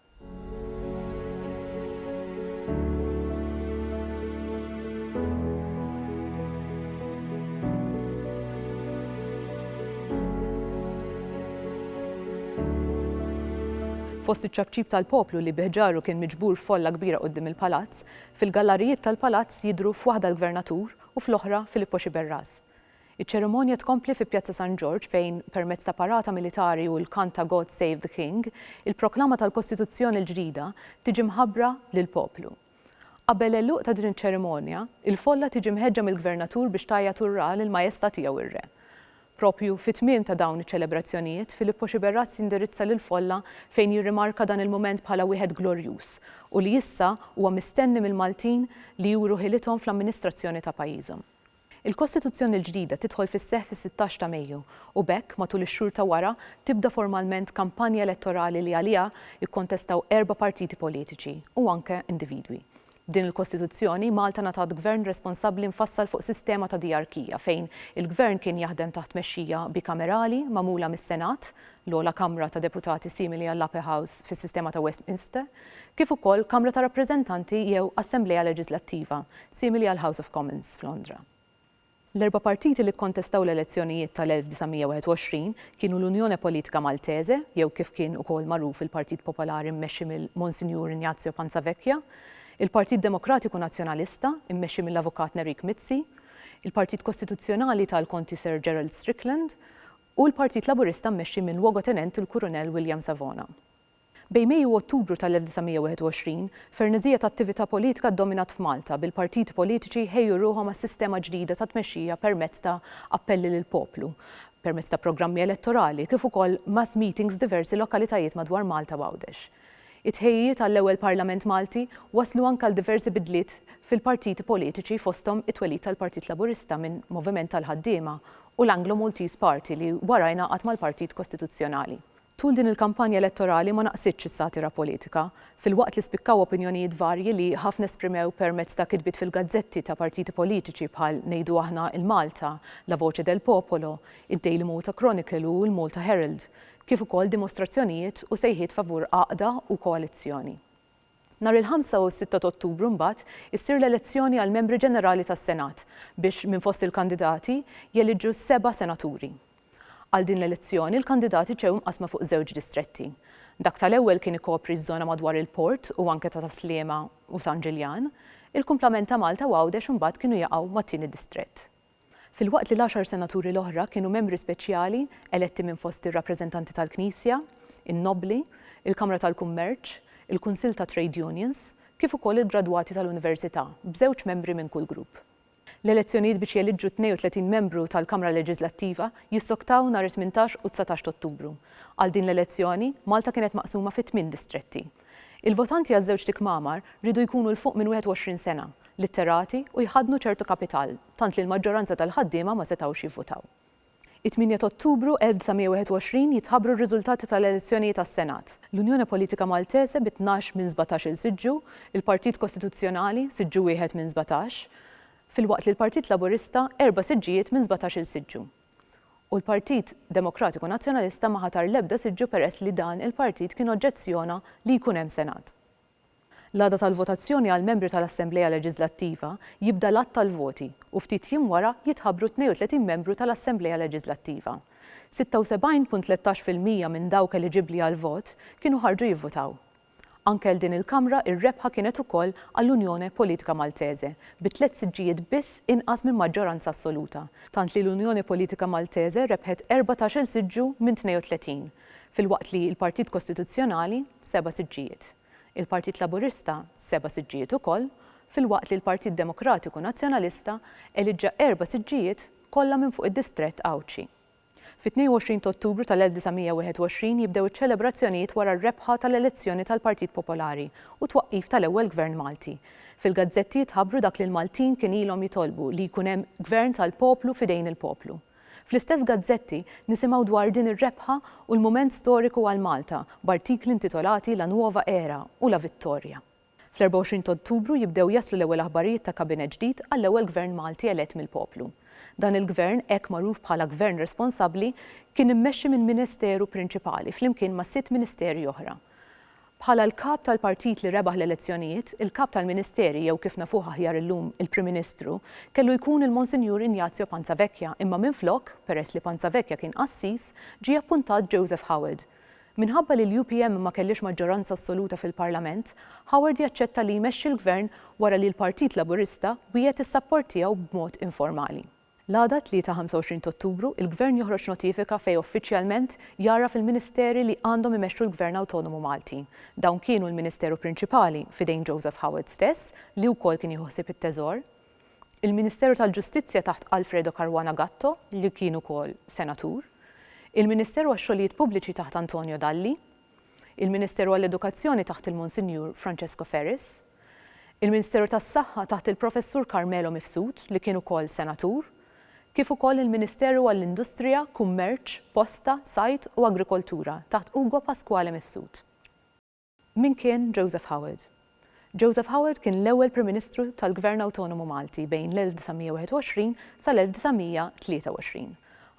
Fost iċ-ċapċip tal-poplu li bih ġarru kien miġbur folla kbira quddiem il-palazz, fil-gallarijiet tal-palazz jidhru f'waħda l-Gvernatur u fl-oħra Filippo Sciberras. Iċ-ċerimonja tkompli fi Pjazza San Ġorġ fejn, permezz ta' parata militari u l-kant ta' God Save the King, il-proklama tal-Kostituzzjoni l-ġdida tiġi mħabbra lill-poplu. Qabel l-għeluq ta' din iċ-ċerimonja, il-folla tiġi mħeġġa mill-Gvernatur biex tgħajjat Urrà lill-Majesta' tiegħu ir-Re. Propju fi tmiem ta' dawn iċ-ċelebrazzjonijiet, Filippo Sciberras jindirizza lill-folla fejn jirrimarka dan il-mument bħala wieħed glorjuż u li issa huwa mistenni mill-Maltin li juru ħilithom fl-amministrazzjoni ta' pajjiżhom. Il-Kostituzzjoni l-ġdida tidħol fis-seħħ fis-sittax ta' Mejju u b'hekk, matul ix-xhur ta' wara, tibda formalment kampanja elettorali li għaliha jikkontestaw erba' partiti politiċi u anke individwi. B'din il-Kostituzzjoni, Malta ngħatat Gvern responsabbli mfassal fuq sistema ta' diyarkija fejn il-Gvern kien jaħdem taħt tmexxija bikamerali magħmula mis-Senat, l-ogħla kamra ta' deputati simili għall-Upper House fis-sistema ta' Westminster, kif ukoll Kamra ta' Rappreżentanti jew Assemblea Leġislattiva simili għall-House of Commons f'Londra. L-erba' partiti li kkontestaw l-elezzjonijiet tal-1921 kienu l-Unione Politica Maltese, jew kif kien ukoll magħruf il-Partit Popolari mmexxi mill-Monsinjur Ignazio Panzavecchia, il-Partit Demokratiku Nazzjonalista, immexxi mill-Avukat Nerik Mizzi, il-Partit Kostituzzjonali tal-Konti Sir Gerald Strickland, u l-Partit Laburista mmexxi minn Luogotenent il-Kurunell William Savona. Bejn Mejju u Ottubru tal-1921, ferneżija ta' attività politika ddominat f'Malta, bil-partiti politiċi jħejju ruħhom għas-sistema ġdida ta' tmexxija permezz ta' appelli lill-poplu, permezz ta' programmi elettorali, kif ukoll mass meetings f'diversi lokalitajiet madwar Malta u Għawdex. It-tħejjijiet għall-ewwel Parlament Malti wasslu anke għal diversi bidliet fil-partiti politiċi fosthom it-twelid tal-Partit Laburista minn moviment tal-ħaddiema u l-Anglo-Maltese Party li wara ingħaqad mal-Partit Kostituzzjonali. Tul din il-kampanja elettorali ma naqsitx is-satira politika, filwaqt li spikkaw opinjonijiet varji li ħafna esprimew permezz ta' kitbiet fil-gazzetti ta' partiti politiċi bħal Ngħidu Aħna il-Malta, La Voce del Popolo, id-Daily Malta Chronicle u l-Malta Herald, kif ukoll dimostrazzjonijiet u sejħiet favur għaqda u koalizzjoni. Nhar il-Ħamsa u s-Sitta t'Ottubru mbagħad issir l-elezzjoni għall-Membri Ġenerali tas-Senat biex minn fost il-kandidati jeliġġu seba' Senaturi. Għal din l-elezzjoni l-kandidati ġew imqassma fuq żewġ distretti. Dak tal-ewwel kien ikopri ż-żona madwar il-Port u anke ta' Tas-Sliema u San Ġiljan. Il-kumplament ta' Malta u Għawdex imbagħad kienu jaqgħu mat-tieni distrett. Filwaqt li l-għaxar senaturi l-oħra kienu membri speċjali eletti minn fost ir-rappreżentanti tal-Knisja, in-nobbli, il-Kamra tal-Kummerċ, il-Kunsill tat-Trade Unions, kif ukoll il-gradwati tal-Università, b'żewġ membri minn kull grupp. L-elezzjonijiet biex jeliġġu 32 membru tal-Kamra Leġiżlattiva jissoktaw nhar it-tmintax u t-dsatax t'Ottubru. Għal din l-elezzjoni, Malta kienet maqsuma fi tmien distretti. Il-votanti għaż-żewġt ikmamar riedu jkunu 'l fuq minn 21 sena, litterati u jħaddnu ċertu kapital, tant li l-maġġoranza tal-ħaddiema ma setgħux jivvutaw. It-tmienja t'Ottubru 1921 jitħabbru r-riżultati tal-elezzjonijiet għas-Senat. L-Unione Politica Maltese bi tnax minn sbatax-il siġġu, il-Partit Kostituzzjonali, siġġu wieħed minn sbatax, filwaqt li l-Partit Laburista erba' siġġijiet minn sbatax-il siġġu. u l-Partit Demokratiku Nazzjonalista ma ħatar l-ebda siġġu peress li dan il-partit kien oġġezzjona li jkun hemm Senat. L-għada tal-votazzjoni għall-membri tal-Assemblea Leġiżlattiva jibda l-għadd tal-voti u ftit jiem wara jitħabbru t-tnejn u tletin membru tal-Assemblea Leġiżlattiva. Sitta u sebgħin punt tlettax fil-mija minn dawk eliġibbli għall-vot kienu ħarġu jivvutaw. Anke għal din il-Kamra ir-rebħa kienet ukoll għall-Unione Politica Maltese bi tliet siġġijiet biss inqas minn maġġoranza assoluta, tant li l-Unione Politica Maltese rebħet erbatax-il siġġu minn 32, filwaqt li l-Partit Kostituzzjonali seba' siġġijiet, il-Partit Laburista seba' siġġijiet ukoll, filwaqt li l-Partit Demokratiku Nazzjonalista eliġġa erba' siġġijiet, kollha minn fuq id-distrett Għawdxi. Fit-22 t'Ottubru tal-1921 jibdew iċ-ċelebrazzjonijiet wara r-rebħa tal-elezzjoni tal-Partit Popolari u t-twaqqif tal-ewwel Gvern Malti. Fil-gazzetti jitħabbru dak li l-Maltin kien ilhom jitolbu, li jkun hemm Gvern tal-poplu f'idejn il-poplu. Fl-istess gazzetti nisimgħu dwar din ir-rebħa u l-mument storiku għal Malta, b'artikli intitolati La Nuova Era u La Vittoria. Fl-24 t'Ottubru jibdew jaslu l-ewwel aħbarijiet ta' Kabinett ġdid għall-ewwel Gvern Malti elett mill-poplu. Dan il-Gvern, hekk magħruf bħala Gvern Responsabbli, kien immexxi minn Ministeru prinċipali flimkien ma' sitt Ministeri oħra. Bħala l-Kap tal-Partit li rebaħ l-elezzjonijiet, il-Kap tal-Ministeri, jew kif nafuh aħjar illum, il-Prim Ministru, kellu jkun il-Monsinjur Ignazio Panzavecchia imma minflok, peress li Panzavecchia kien qassis, ġie appuntat Joseph Howard. Minħabba li l-UPM ma kellhiex maġġoranza assoluta fil-Parlament, Howard jaċċetta li jmexxi l-Gvern wara li l-Partit Laburista wiegħed is-sapport tiegħu b'mod informali. L-għada, Tlieta 25 t'Ottubru, il-Gvern joħroġ notifika fejn uffiċjalment jgħarraf il-Ministeri li għandhom imexxu l-Gvern Awtonomu Malti. Dawn kienu l-Ministeru Prinċipali, f'idejn Joseph Howard stess, li wkoll kien jieħu ħsieb it-Teżor, il-Ministeru tal-Ġustizzja taħt Alfredo Caruana Gatto li kien ukoll Senatur, il-Ministeru għax-Xogħlijiet Pubbliċi taħt Antonio Dalli, il-Ministeru għall-Edukazzjoni taħt il-Monsinjur Francesco Ferris, il-Ministeru tas-Saħħa taħt il-Professur Carmelo Mifsud li kien ukoll Senatur, kif ukoll il-Ministeru għall-Industrija, Kummerċ, Posta, Sajd u Agrikoltura taħt Ugo Pasquale Mifsud. Min kien Joseph Howard? Joseph Howard kien l-ewwel Prim Ministru tal-Gvern Awtonomu Malti bejn l-1921 sal-1923.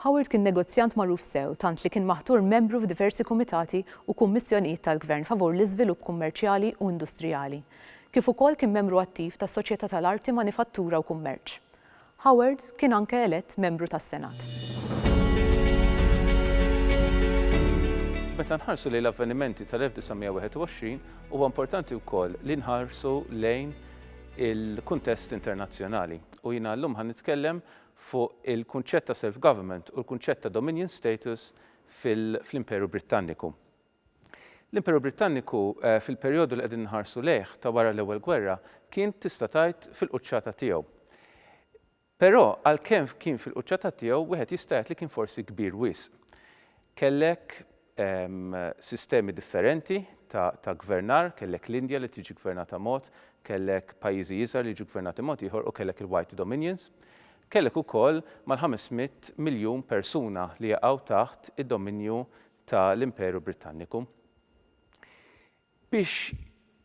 Howard kien negozjant magħruf sew tant li kien maħtur membru f'diversi kumitati u kummissjonijiet tal-Gvern favur l-iżvilupp kummerċjali u industrijali, kif ukoll kien membru attiv tas-Soċjetà tal-Arti, Manifattura u Kummerċ. Howard kien anke elett membru tas-Senat. Meta nħarsu lejn l-avvenimenti tal-1921, huwa importanti wkoll li nħarsu lejn il-kuntest internazzjonali. U jiena llum ħa nitkellem fuq il-kunċett ta' self-government u l-kunċett ta' dominion status fl-Imperu Brittanniku. L-Imperu Brittanniku fil-perjodu li qegħdin inħarsu lejh ta' wara l-Ewwel Gwerra kien tista' tgħid fil-quċċata tiegħu. Però għalkemm kien fil-quċċata tiegħu wieħed jista' jgħid li kien forsi kbir wisq. Kellek sistemi differenti ta' ta' gvernar, kellek l-Indja li tiġi gvernata mod, kellek pajjiżi iżgħar li jiġu gvernati mod ieħor u kellek il-White Dominions. Kellek ukoll mal-500 miljun persuna li jaqgħu taħt id-dominju ta' l-Imperu Brittanniku. Biex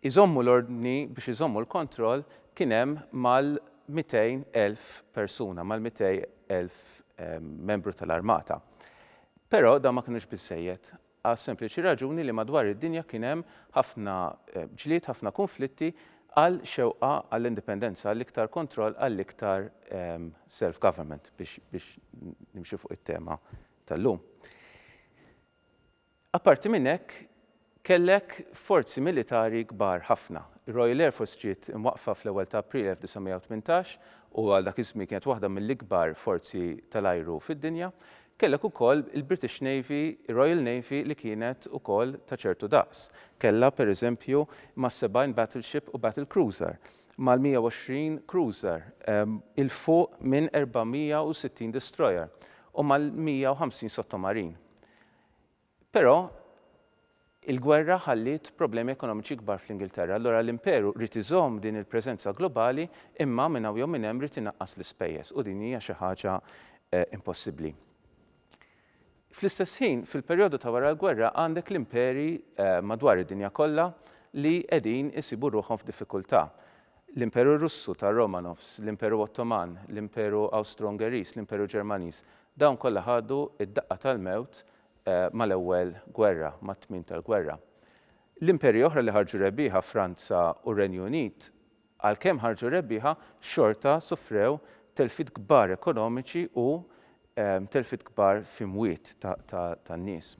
iżommu l-ordni, biex iżommu l-kontroll kien hemm mal-200,000 persuna, mal-200,000 membru ta' l-armata. Però dawn ma kinux biżżejjed għas-sempliċi raġuni li madwar id-dinja kien hemm ħafna ġlied, ħafna kunflitti għal xewqa għall-indipendenza, għall-iktar kontroll, għall-iktar self-government, biex nimxi fuq it-tema tal-lum. Apparti minn hekk, kellek forzi militari kbar ħafna. Ir-Royal Air Force ġiet imwaqqfa fl-ewwel ta' April 1918 u għal dak iż-żmien kienet waħda mill-ikbar forzi tal-ajru fid-dinja. Kellek ukoll il-British Navy, ir-Royal Navy li kienet ukoll ta' ċertu daqs. Kellha, per eżempju, mas-70 battleship u battle cruiser, mal-120 cruiser, 'il fuq minn 460 destroyer u mal-150 sottomarin. Però il-gwerra ħalliet problemi ekonomiċi kbar fl-Ingilterra, allura l-Imperu ried iżomm din il-preżenza globali imma minn hawn jew minn hemm ried inaqqas l-ispejjeż u din hija xi ħaġa impossibbli. Fl-istess ħin, fil-perjodu ta' wara l-gwerra għandek l-imperi madwar id-dinja kollha li qegħdin isibu ruħhom f'diffikultà. L-Imperu Russu tar-Romanovs, l-Imperu Ottoman, l-Imperu Awstro-Ungeriż, l-Imperu Ġermaniż, dawn kollha ħadu d-daqqa tal-mewt mal-Ewwel Gwerra, mat-tmiem tal-gwerra. L-imperji oħra li ħarġu rebbieħa, Franza u r-Renju Unit, għalkemm ħarġu rebbieħa, xorta sofrew telfiet kbar ekonomiċi u telfiet kbar f'imwiet tan-nies.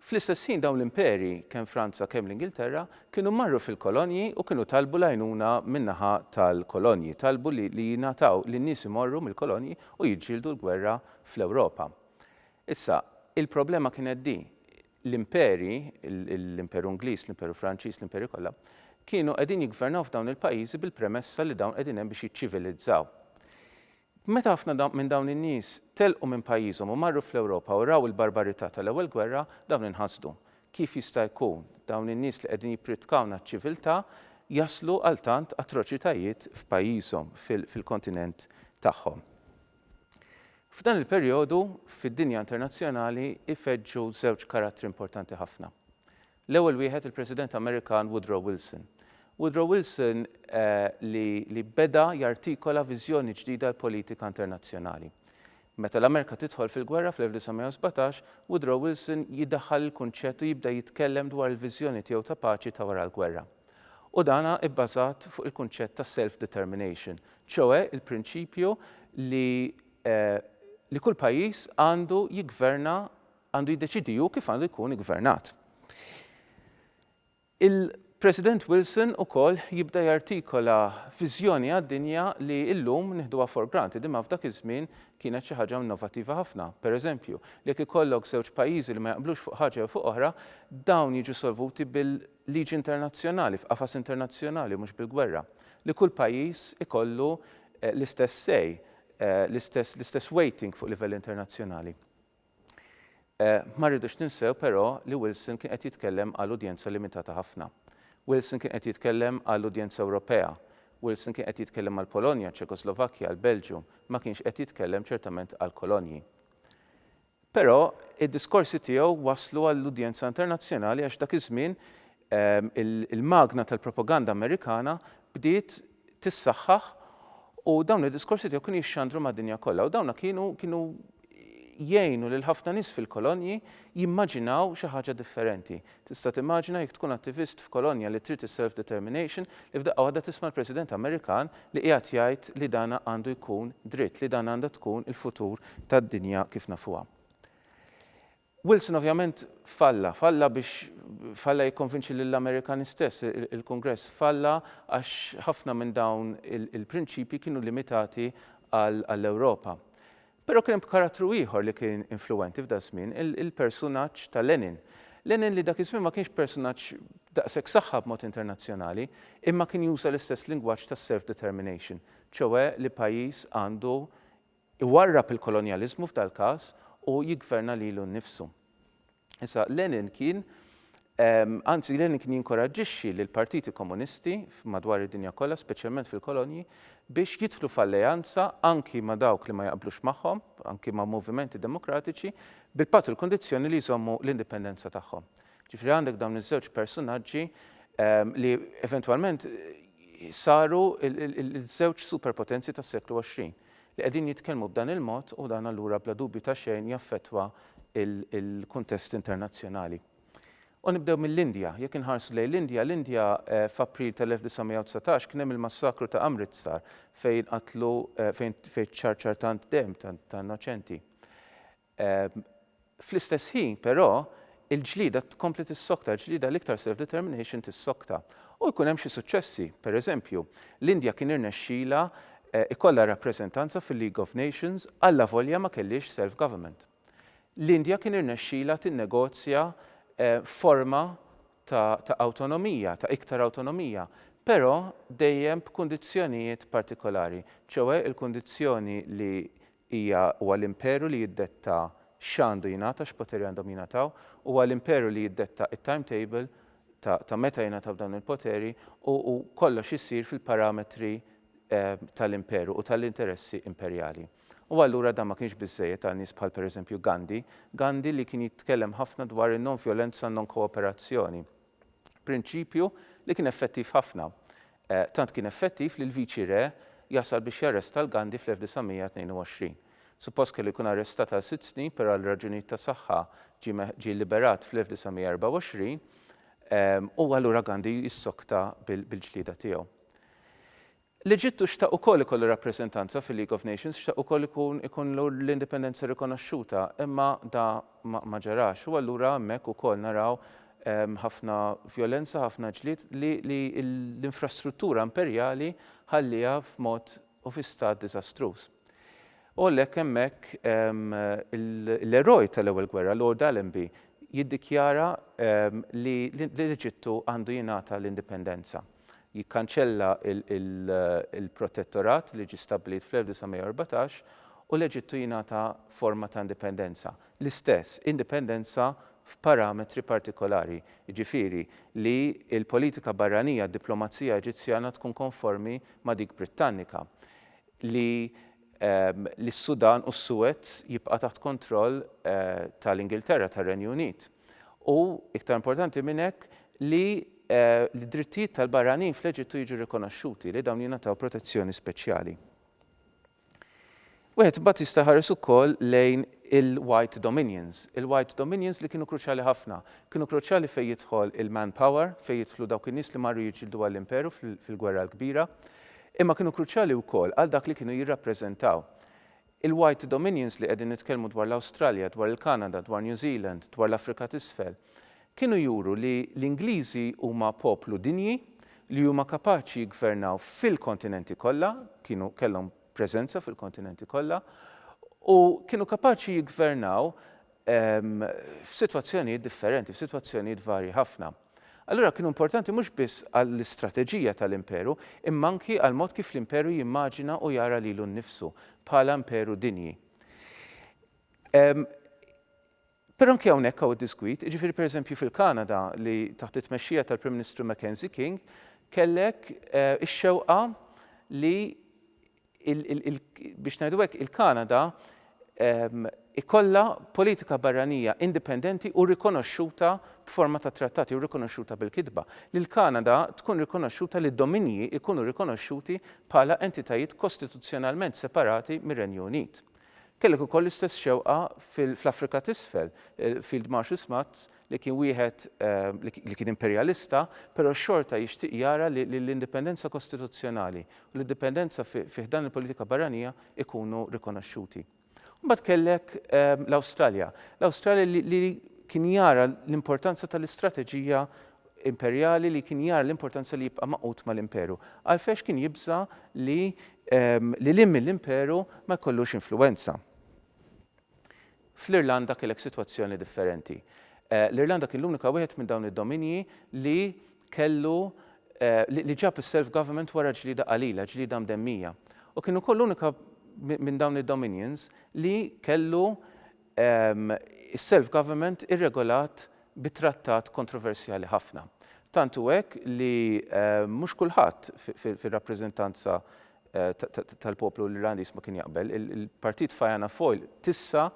Fl-istess ħin dawn l-imperi, kemm Franza kemm l-Ingilterra, kienu marru fil-kolonji u kienu talbu l-għajnuna min-naħa tal-kolonji, talbu li li jingħataw li n-nies imorru mill-kolonji u jiġġieldu l-gwerra fl-Ewropa. Issa, il-problema kienet di, l-imperi, l-Imperu Ingliż, l-Imperu Franċiż, l-imperi kollha, kienu qegħdin jiggvernaw f'dawn il-pajjiżi bil-premessa li dawn qegħdin hemm biex jiċċivilizzaw. Meta ħafna minn dawn in-nies telqu minn pajjiżhom u marru fl-Ewropa u raw il-barbarità tal-Ewwel Gwerra, dawn inħasdu. Kif jista' jkun, dawn in-nies li qegħdin jippritkawna ċ-ċiviltà, jaslu għal tant atroċitajiet f'pajjiżhom, fil-kontinent tagħhom? F'dan il-perjodu, fid-dinja internazzjonali, ifeġġu żewġ karattri importanti ħafna. L-ewwel wieħed il-President Amerikan Woodrow Wilson. Woodrow Wilson li li beda jartikola viżjoni ġdida għall-politika internazzjonali. Meta l-Amerika tidħol fil-gwerra fl-1917, Woodrow Wilson jidaħħal il-kunċett u jibda jitkellem dwar il-viżjoni tiegħu ta' paċi ta' wara l-gwerra. U dan ibbażat fuq il-kunċett ta' self-determination, ċoe il-prinċipju li li kull pajjiż għandu jiggverna Għandu jiddeċiedi hu kif għandu jkun iggvernat. Il-President Wilson ukoll jibda jartikola viżjoni għad-dinja li llum nieħduha for granted imma f'dak iż-żmien kienet xi ħaġa innovattiva ħafna. Pereżempju, li jekk ikollok żewġ pajjiżi li ma jaqblux fuq ħaġa jew fuq oħra, dawn jiġu solvuti bil-liġi internazzjonali, f'qafas internazzjonali u mhux bil-gwerra. Li kull pajjiż ikollu l-istess say, l-istess weighting fuq livell internazzjonali. Ma rridux ninsew però li Wilson kien qed jitkellem għal udjenza limitata ħafna. Wilson kien qed jitkellem għal udjenza Ewropea. Wilson kien qed jitkellem għall-Polonja, ċ-Ċekoslovakkja, għall-Belġju, ma kienx qed jitkellem ċertament għall-kolonji. Però id-diskorsi tiegħu waslu għall-udjenza internazzjonali għax dak iż-żmien il-magna tal-propaganda Amerikana bdiet tissaħħaħ u dawn id-diskorsi tiegħu kienu jixxandru mad-dinja kollha u dawna kienu kienu jgħinu lil ħafna nies fil-kolonji jimmaġinaw xi ħaġa differenti. Tista' timmaġina jekk tkun attivist f'kolonja li trid is-self-determination li f'daqqa waħda tisma' l-President Amerikan li qiegħed jgħid li dana għandu jkun dritt, li dan għandha tkun il-futur tad-dinja kif nafuha. Wilson ovvjament falla, falla biex falla jikkonvinċi lill-Amerikani stess, il-Kungress falla għax ħafna minn dawn il-prinċipji kienu limitati għall-Ewropa. Però kien hemm karattru ieħor li kien influwenti f'daż-żmien, il-persunaġġ ta' Lenin. Lenin li dak iż-żmien ma kienx persunaġġ daqshekk saħħa b'mod internazzjonali, imma kien juża l-istess lingwaġġ ta' self-determination, ċoe li pajjiż għandu Iwarrab il-kolonjaliżmu f'dal-każ u jiggverna lilu nnifsu. Issa, Lenin kien, anzi, Lenin kien jinkoraġġixxi lill-partiti komunisti madwar id-dinja kollha, speċjalment fil-kolonji, biex jidħlu f'alleanza anki ma' dawk li ma jaqblux magħhom, anki ma' movimenti demokratiċi, bil-patt u l-kundizzjoni li jżommu l-indipendenza tagħhom. Ġifieri għandek dawn iż-żewġ persunaġġi li eventwalment saru ż-żewġ superpotenzi tas-seklu 20. li qegħdin jitkellmu b'dan il-mod u dan allura bla dubju ta' xejn jaffettwa l-kuntest internazzjonali. U nibdew mill-Indja. Jekk inħarsu lejn l-Indja, l-Indja f'April tal-1919 kien hemm il-massakru ta' Amritsar fejn qatlu fejn fejn ċċarċar tant demm ta' innoċenti. Fl-istess ħin, però, il-ġlieda tkompli tissokta, il-ġlieda l-iktar self-determination tissokta. U jkun hemm xi suċċessi. Pereżempju, l-Indja kien irnexxilha jkollha rappreżentanza fil-League of Nations allavolja ma kellhiex self-government. L-Indja kien irnexxilha tinnegozja forma ta' ta' awtonomija, ta' iktar awtonomija, però dejjem b'kundizzjonijiet partikolari, ċoe l-kundizzjoni li Hija, huwa l-Imperu li jiddetta x'għandu jingħata, x'poteri għandhom jingħataw, huwa l-Imperu li jiddetta it-timetable ta' ta' meta jingħataw dawn il-poteri u u kollox isir fil-parametri tal-Imperu u tal-interessi imperjali. U allura dan ma kienx biżżejjed għal nies bħal pereżempju Gandhi, Gandhi li kien jitkellem ħafna dwar in-nonvjolenza, non-kooperazzjoni. Prinċipju li kien effettiv ħafna. Tant kien effettiv li l-Viċi Re jasal biex jarresta 'l Gandhi fl-1922. Suppost kellu jkun arrestat għal sitt snin però għal raġunijiet ta' saħħa ġie liberat fl-1924 u allura Gandhi jissokta bil-ġlieda tiegħu. L-Eġittu xtaq ukoll ikollu rappreżentanza fil-League of Nations, xtaq ukoll ikun ikollu l-indipendenza rikonoxxuta, imma da ma ma ġarax. U allura hemmhekk ukoll naraw ħafna vjolenza, ħafna ġlied li li l-infrastruttura imperjali ħallieha f'mod u fi stat diżastruż. U għalhekk hemmhekk l-eroj tal-Ewwel Gwerra, Lord Allenby, jiddikjara li l-Eġittu għandu jingħata l-indipendenza. jikkanċella l-protettorat li ġie stabbilit fl-1914 u l-Eġittu jingħata forma ta' indipendenza, l-istess indipendenza f'parametri partikolari, jiġifieri li l-politika barranija, d-diplomazija Eġizzjana tkun konformi ma' dik Brittannika, li s-Sudan u s-Suez jibqa' taħt kontroll tal-Ingilterra, tar-Renju Unit. u, iktar importanti minn hekk, li d-drittijiet tal-barranin fl-Eġittu jiġu rikonoxxuti, li dawn jingħataw protezzjoni speċjali. Wieħed imbagħad jista' jħares ukoll lejn il-White Dominions. Il-White Dominions li kienu kruċjali ħafna. Kienu kruċjali fejn jidħol il-manpower, fejn jidħlu dawk in-nies li marru jiġġieldu għall-Imperu fil-Gwerra l-Kbira, imma kienu kruċjali wkoll għal dak li kienu jirrappreżentaw. Il-White Dominions li qegħdin nitkellmu dwar l-Awstralja, dwar il-Kanada, dwar New Zealand, dwar l-Afrika t'Isfel, kienu juru li l-Ingliżi huma poplu dinji, li huma kapaċi jiggvernaw fil-kontinenti kollha, kienu kellhom preżenza fil-kontinenti kollha, u kienu kapaċi jiggvernaw f'sitwazzjonijiet differenti, f'sitwazzjonijiet varji ħafna. Allura kienu importanti mhux biss għall-istrateġija tal-imperu, imma anki għall-mod kif l-imperu jimmaġina u jara lilu nnifsu bħala imperu dinji. Però anki hawnhekk hawn id-disgwid, jiġifieri pereżempju fil-Kanada li taħt it-tmexxija tal-Prim Ministru Mackenzie King kellek eh, ix-xewqa li biex ngħidu hekk, il-Kanada ikollha politika barranija indipendenti u rikonoxxuta b'forma ta' trattati u rikonoxxuta bil-kitba, li l-Kanada tkun rikonoxxuta li d-dominji jkunu rikonoxxuti bħala entitajiet kostituzzjonalment separati mir-Renju Unit. Kellek ukoll l-istess xewqa fl-Afrika t'Isfel, Field Marshal Smuts li kien wieħed li kien imperjalista, però xorta jixtieq jara li l-indipendenza kostituzzjonali u l-indipendenza fi ħdan il-politika barranija jkunu rikonoxxuti. Mbagħad kellek l-Awstralja. L-Awstralja li kien jara l-importanza tal-istrateġija imperjali li kien jara l-importanza li jibqa' magħqud mal-imperu. Għalfejn kien jibża' li lil hinn mill-imperu ma jkollux influwenza. Fl-Irlanda kellek sitwazzjoni differenti. L-Irlanda kien l-unika wieħed minn dawn id-dominji li kellu li ġab is-self-government wara ġlieda qalila, ġlieda mdemmija. U kien ukoll l-unika minn dawn id-dominions li kellu is-self-government irregolat bi trattat kontroversjali ħafna. Tant hu hekk li mhux kulħadd fir-rappreżentanza tal-poplu Irlandiż ma kien jaqbel, il-partit Fianna Fáil t'issa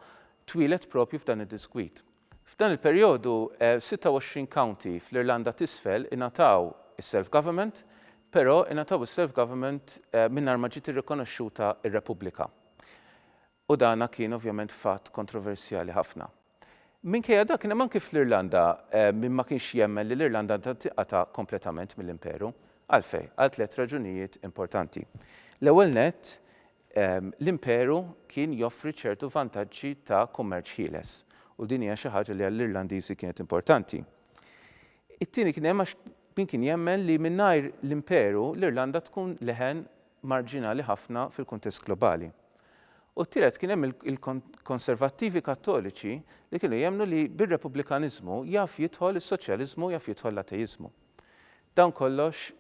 twieled proprju f'dan id-diskwit. F'dan il-perjodu 26 county fl-Irlanda t'Isfel ingħataw is-self-government, però ingħataw is-self-government mingħajr ma ġiet irrikonoxxuta r-Repubblika. u dan kien ovvjament fatt kontroversjali ħafna. Minkejja dak kien hemm anki fl-Irlanda min ma kienx jemmen li l-Irlanda għandha tinqata' kompletament mill-Imperu. Għalfejn? Għal tliet raġunijiet importanti. L-ewwel nett, l-Imperu kien joffri ċertu vantaġġi ta' kummerċ ħieles u din hija xi ħaġa li għall-Irlandiżi kienet importanti. It-tieni kien hemm għax min kien jemmen li mingħajr l-Imperu l-Irlanda tkun leħen marġinali ħafna fil-kuntest globali. U t-tielet kien hemm il-konservattivi kattoliċi li kienu jemmnu li bir-repubblikaniżmu jaf jidħol is-soċjaliżmu jaf jidħol l-ateiżmu. Dawn kollox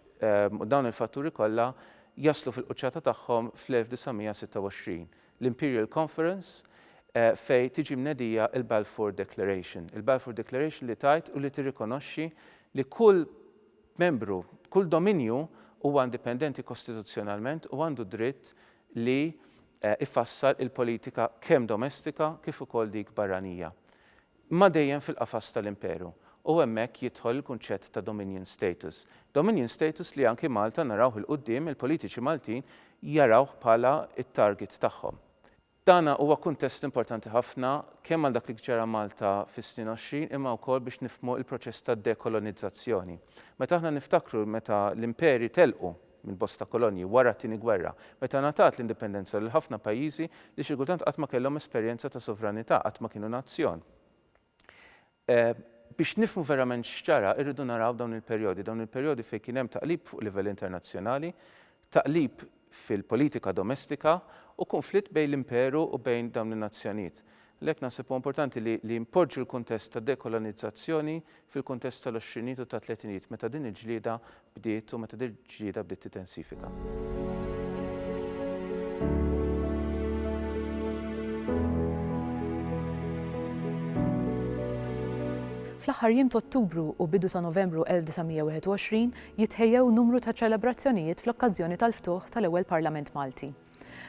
u dawn il-fatturi kollha jaslu fil-quċċata tagħhom fl-1926, l-Imperial Conference fejn tiġi mnedija l-Balfour Declaration. Il-Balfour Declaration li tgħid u li tirrikonoxxi li kull Membru, kull dominju huwa indipendenti kostituzzjonalment u għandu d-dritt li jfassal il-politika kemm domestika kif ukoll dik barranija, imma dejjem fil-qafas tal-Imperu, u hemmhekk jidħol il-kunċett ta' dominion status. Dominion status li anki Malta narawh 'il quddiem, il-politiċi Maltin jarawh bħala t-target tagħhom. Dana huwa kuntest importanti ħafna kemm għal dak li ġara Malta fis-snin għoxrin imma wkoll biex nifhmu l-proċess ta' dekolonizzazzjoni. Meta aħna niftakru meta l-imperi telqu minn bosta kolonji wara t-Tieni Gwerra, meta ngħatat l-indipendenza lil ħafna pajjiżi li xi kultant qatt ma kellhom esperjenza ta' sovranità, qatt ma kienu nazzjon. Biex nifhmu verament x'ġara, irridu naraw dawn il-perjodi, dawn il-perjodi fejn kien hemm taqlib fuq livell internazzjonali, taqlib fil-politika domestika u kunflitt bejn l-Imperu u bejn dawn in-nazzjonijiet. Għalhekk naħseb huwa importanti li li npoġġu l-kuntest tad-dekolonizzazzjoni fil-kuntest tal-għoxrinijiet u tat-tletinijiet meta din il-ġlieda bdiet u meta dil-ġlieda bdiet titensifika. Fl-aħħar jiem t'Ottubru u bidu ta' Novembru 1921 jitħejjew numru ta' ċelebrazzjonijiet fl-okkażjoni tal-ftuħ tal-ewwel Parlament Malti.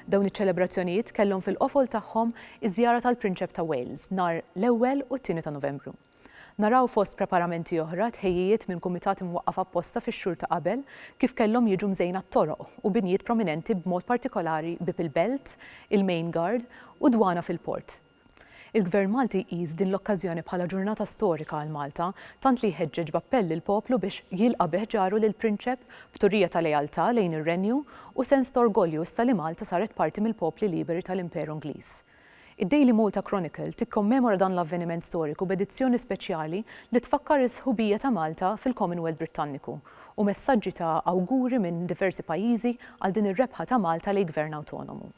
Dawn iċ-ċelebrazzjonijiet kellhom fil-qofol tagħhom iż-żjara tal-Prinċep ta' Wales nhar l-ewwel u t-tieni ta' Novembru. Naraw fost preparamenti oħra tħejjijiet minn kumitat imwaqqaf apposta fix-xhur ta' qabel kif kellhom jiġu mżejna t-toroq u binjiet prominenti b'mod partikolari Bieb il-Belt, il-Main Guard u d-Dwana fil-Port. Il-Gvern Malti jqis din l-okkażjoni bħala ġurnata storika għal Malta tant li jħeġġeġ b'appell lill-poplu biex jilqa' bi ħġaru lill-Prinċep b'turija ta' lealtà lejn ir-Renju u sens ta' orgolju issa li Malta saret parti mill-popli liberi tal-Imperu Ingliż. Id-Daily Malta Chronicle tikkommemora dan l-avveniment storiku b'edizzjoni speċjali li tfakkar is-sħubija ta' Malta fil-Commonwealth Brittanniku u messaġġi ta' awguri minn diversi pajjiżi għal din ir-rebħa ta' Malta lejn gvern awtonomu.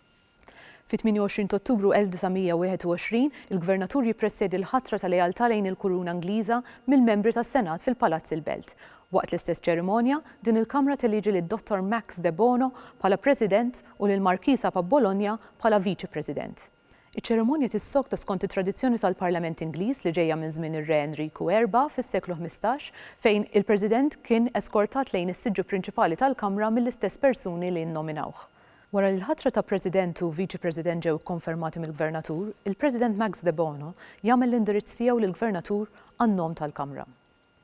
Fit-28 t'Ottubru 1921, il-Gvernatur jippresjedi l-ħatra ta' lealtà lejn il-Kuruna Ingliża mill-membri tas-Senat fil-Palazz il-Belt. Waqt l-istess ċerimonja, din il-Kamra teliġi lid-Dottor Max Debono bħala President u lill-Markisa Pabbologna bħala Viċi President. Iċ-ċerimonja tissokta skont it-tradizzjoni tal-Parlament Ingliż li ġejja minn żmien ir-Re Enriku Erba' fis-seklu ħmistax, fejn il-President kien eskortat lejn is-siġġu prinċipali tal-Kamra mill-istess persuni li nnominawh. Wara li l-ħatra ta' President u Viċi President ġew ikkonfermati mill-Gvernatur, il-President Max Debono jagħmel l-indirizz tiegħu lill-Gvernatur għan-nom tal-Kamra.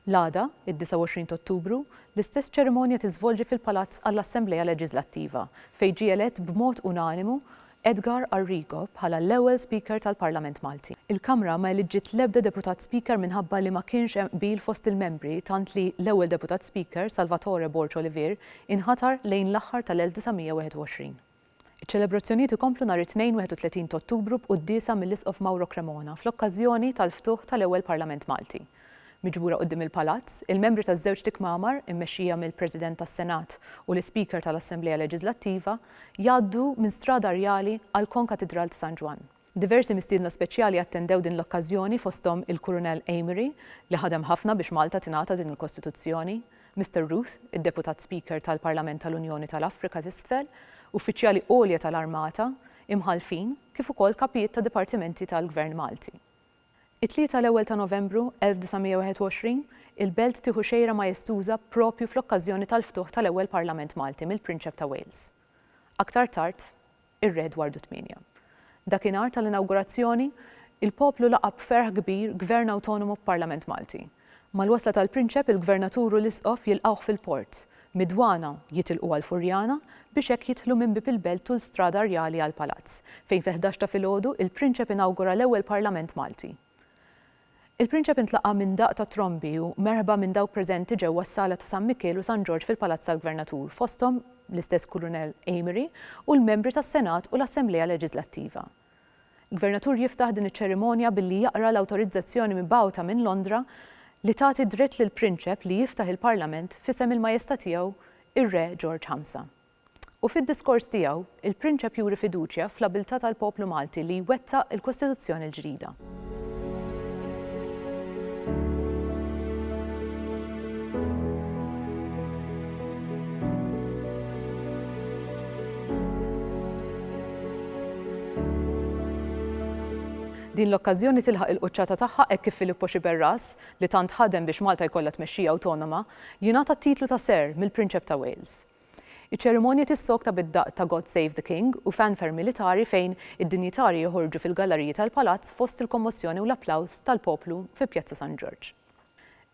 L-għada, id-29 t'Ottubru, l-istess ċerimonja tiżvolġi fil-Palazz għall-Assemblea Leġiżlattiva, fejn ġie elett b'mod unanimu Edgar Arrigo bħala l-ewwel Speaker tal-Parlament Malti. Il-Kamra ma eliġġiet l-ebda Deputat Speaker minħabba li ma kienx hemm qbil fost il-membri tant li l-ewwel Deputat Speaker, Salvatore Borg Olivier, inħatar lejn l-aħħar tal-1921. Iċ-ċelebrazzjonijiet ikomplu nhar it-Tnejn 31 t'Ottubru b'quddiesa mill-Isqof Mauro Cremona fl-okkażjoni tal-ftuħ tal-ewwel Parlament Malti. Miġbura quddiem il-Palazz, il-membri taż-żewġt ikmamar, immexxija mill-President tas-Senat u l-Ispeaker tal-Assemblea Leġiżlattiva, jgħaddu minn Strada Rjali għall-Konkatidral t'San Ġwann. Diversi mistiedna speċjali attendew din l-okkażjoni fosthom il-Kurunell Amery li ħadem ħafna biex Malta tingħata din il-Kostituzzjoni, Mister Ruth, id-Deputat Speaker tal-Parlament tal-Unjoni tal-Afrika t'Isfel, uffiċjali għolja tal-Armata, Imħallfin, kif ukoll kapijiet ta' dipartimenti tal-Gvern Malti. It-Tlieta l-ewwel ta' Novembru 1921, il-belt tieħu xejra majestuża proprju fl-okkażjoni tal-ftuħ tal-ewwel Parlament Malti mill-Prinċep ta' Wales. Aktar tard, Ir-Re Edwardu Tmienja. Dakinhar tal-inawgurazzjoni, il-poplu laqa' b'ferħ kbir Gvern awtonomu b'Parlament Malti. Mal-wasla tal-Prinċep, il-Gvernatur u l-Isqof jilqgħuh fil-port. Mid-dwana, jitilqu għal Furjana, biex hekk jidħlu minn Bieb il-Belt tul Strada Rjali għall-Palazz, fejn fil-ħdax ta' filgħodu, il-Prinċep inawgura l-ewwel Parlament Malti. Il-Prinċep intlaqa' minn daqq ta' trombi u merħba minn dawk preżenti ġewwa s-Sala ta' San Mikiel u San Ġorġ fil-Palazz tal-Gvernatur, fosthom l-istess Kulunell Amery u l-membri tas-Senat u l-Assemblea Leġiżlattiva. Il-Gvernatur jiftaħ din iċ-ċerimonja billi jaqra l-awtorizzazzjoni mibgħuta minn Londra li tagħti dritt lill-Prinċep li jiftaħ il-Parlament f'isem il-Majesta' Tiegħu ir-Re Ġorġ Ħamsa. U fid-diskors tiegħu, il-Prinċep juri fiduċja fl-abiltà tal-poplu Malti li jwettaq il-Kostituzzjoni l-ġdida. Din l-okkażjoni tilħaq il-quċċata tagħha hekk kif Filippo Sciberras, li tant ħadem biex Malta jkollha tmexxija awtonoma, jingħata t-titlu ta' Sir mill-Prinċep ta' Wales. Iċ-ċerimonja tissokta bid-daqq ta' God Save the King u fanfare militari fejn id-dinjitarji joħorġu fil-gallariji tal-Palazz fost il-kommossjoni u l-applaws tal-poplu fi Pjazza San Ġorġ.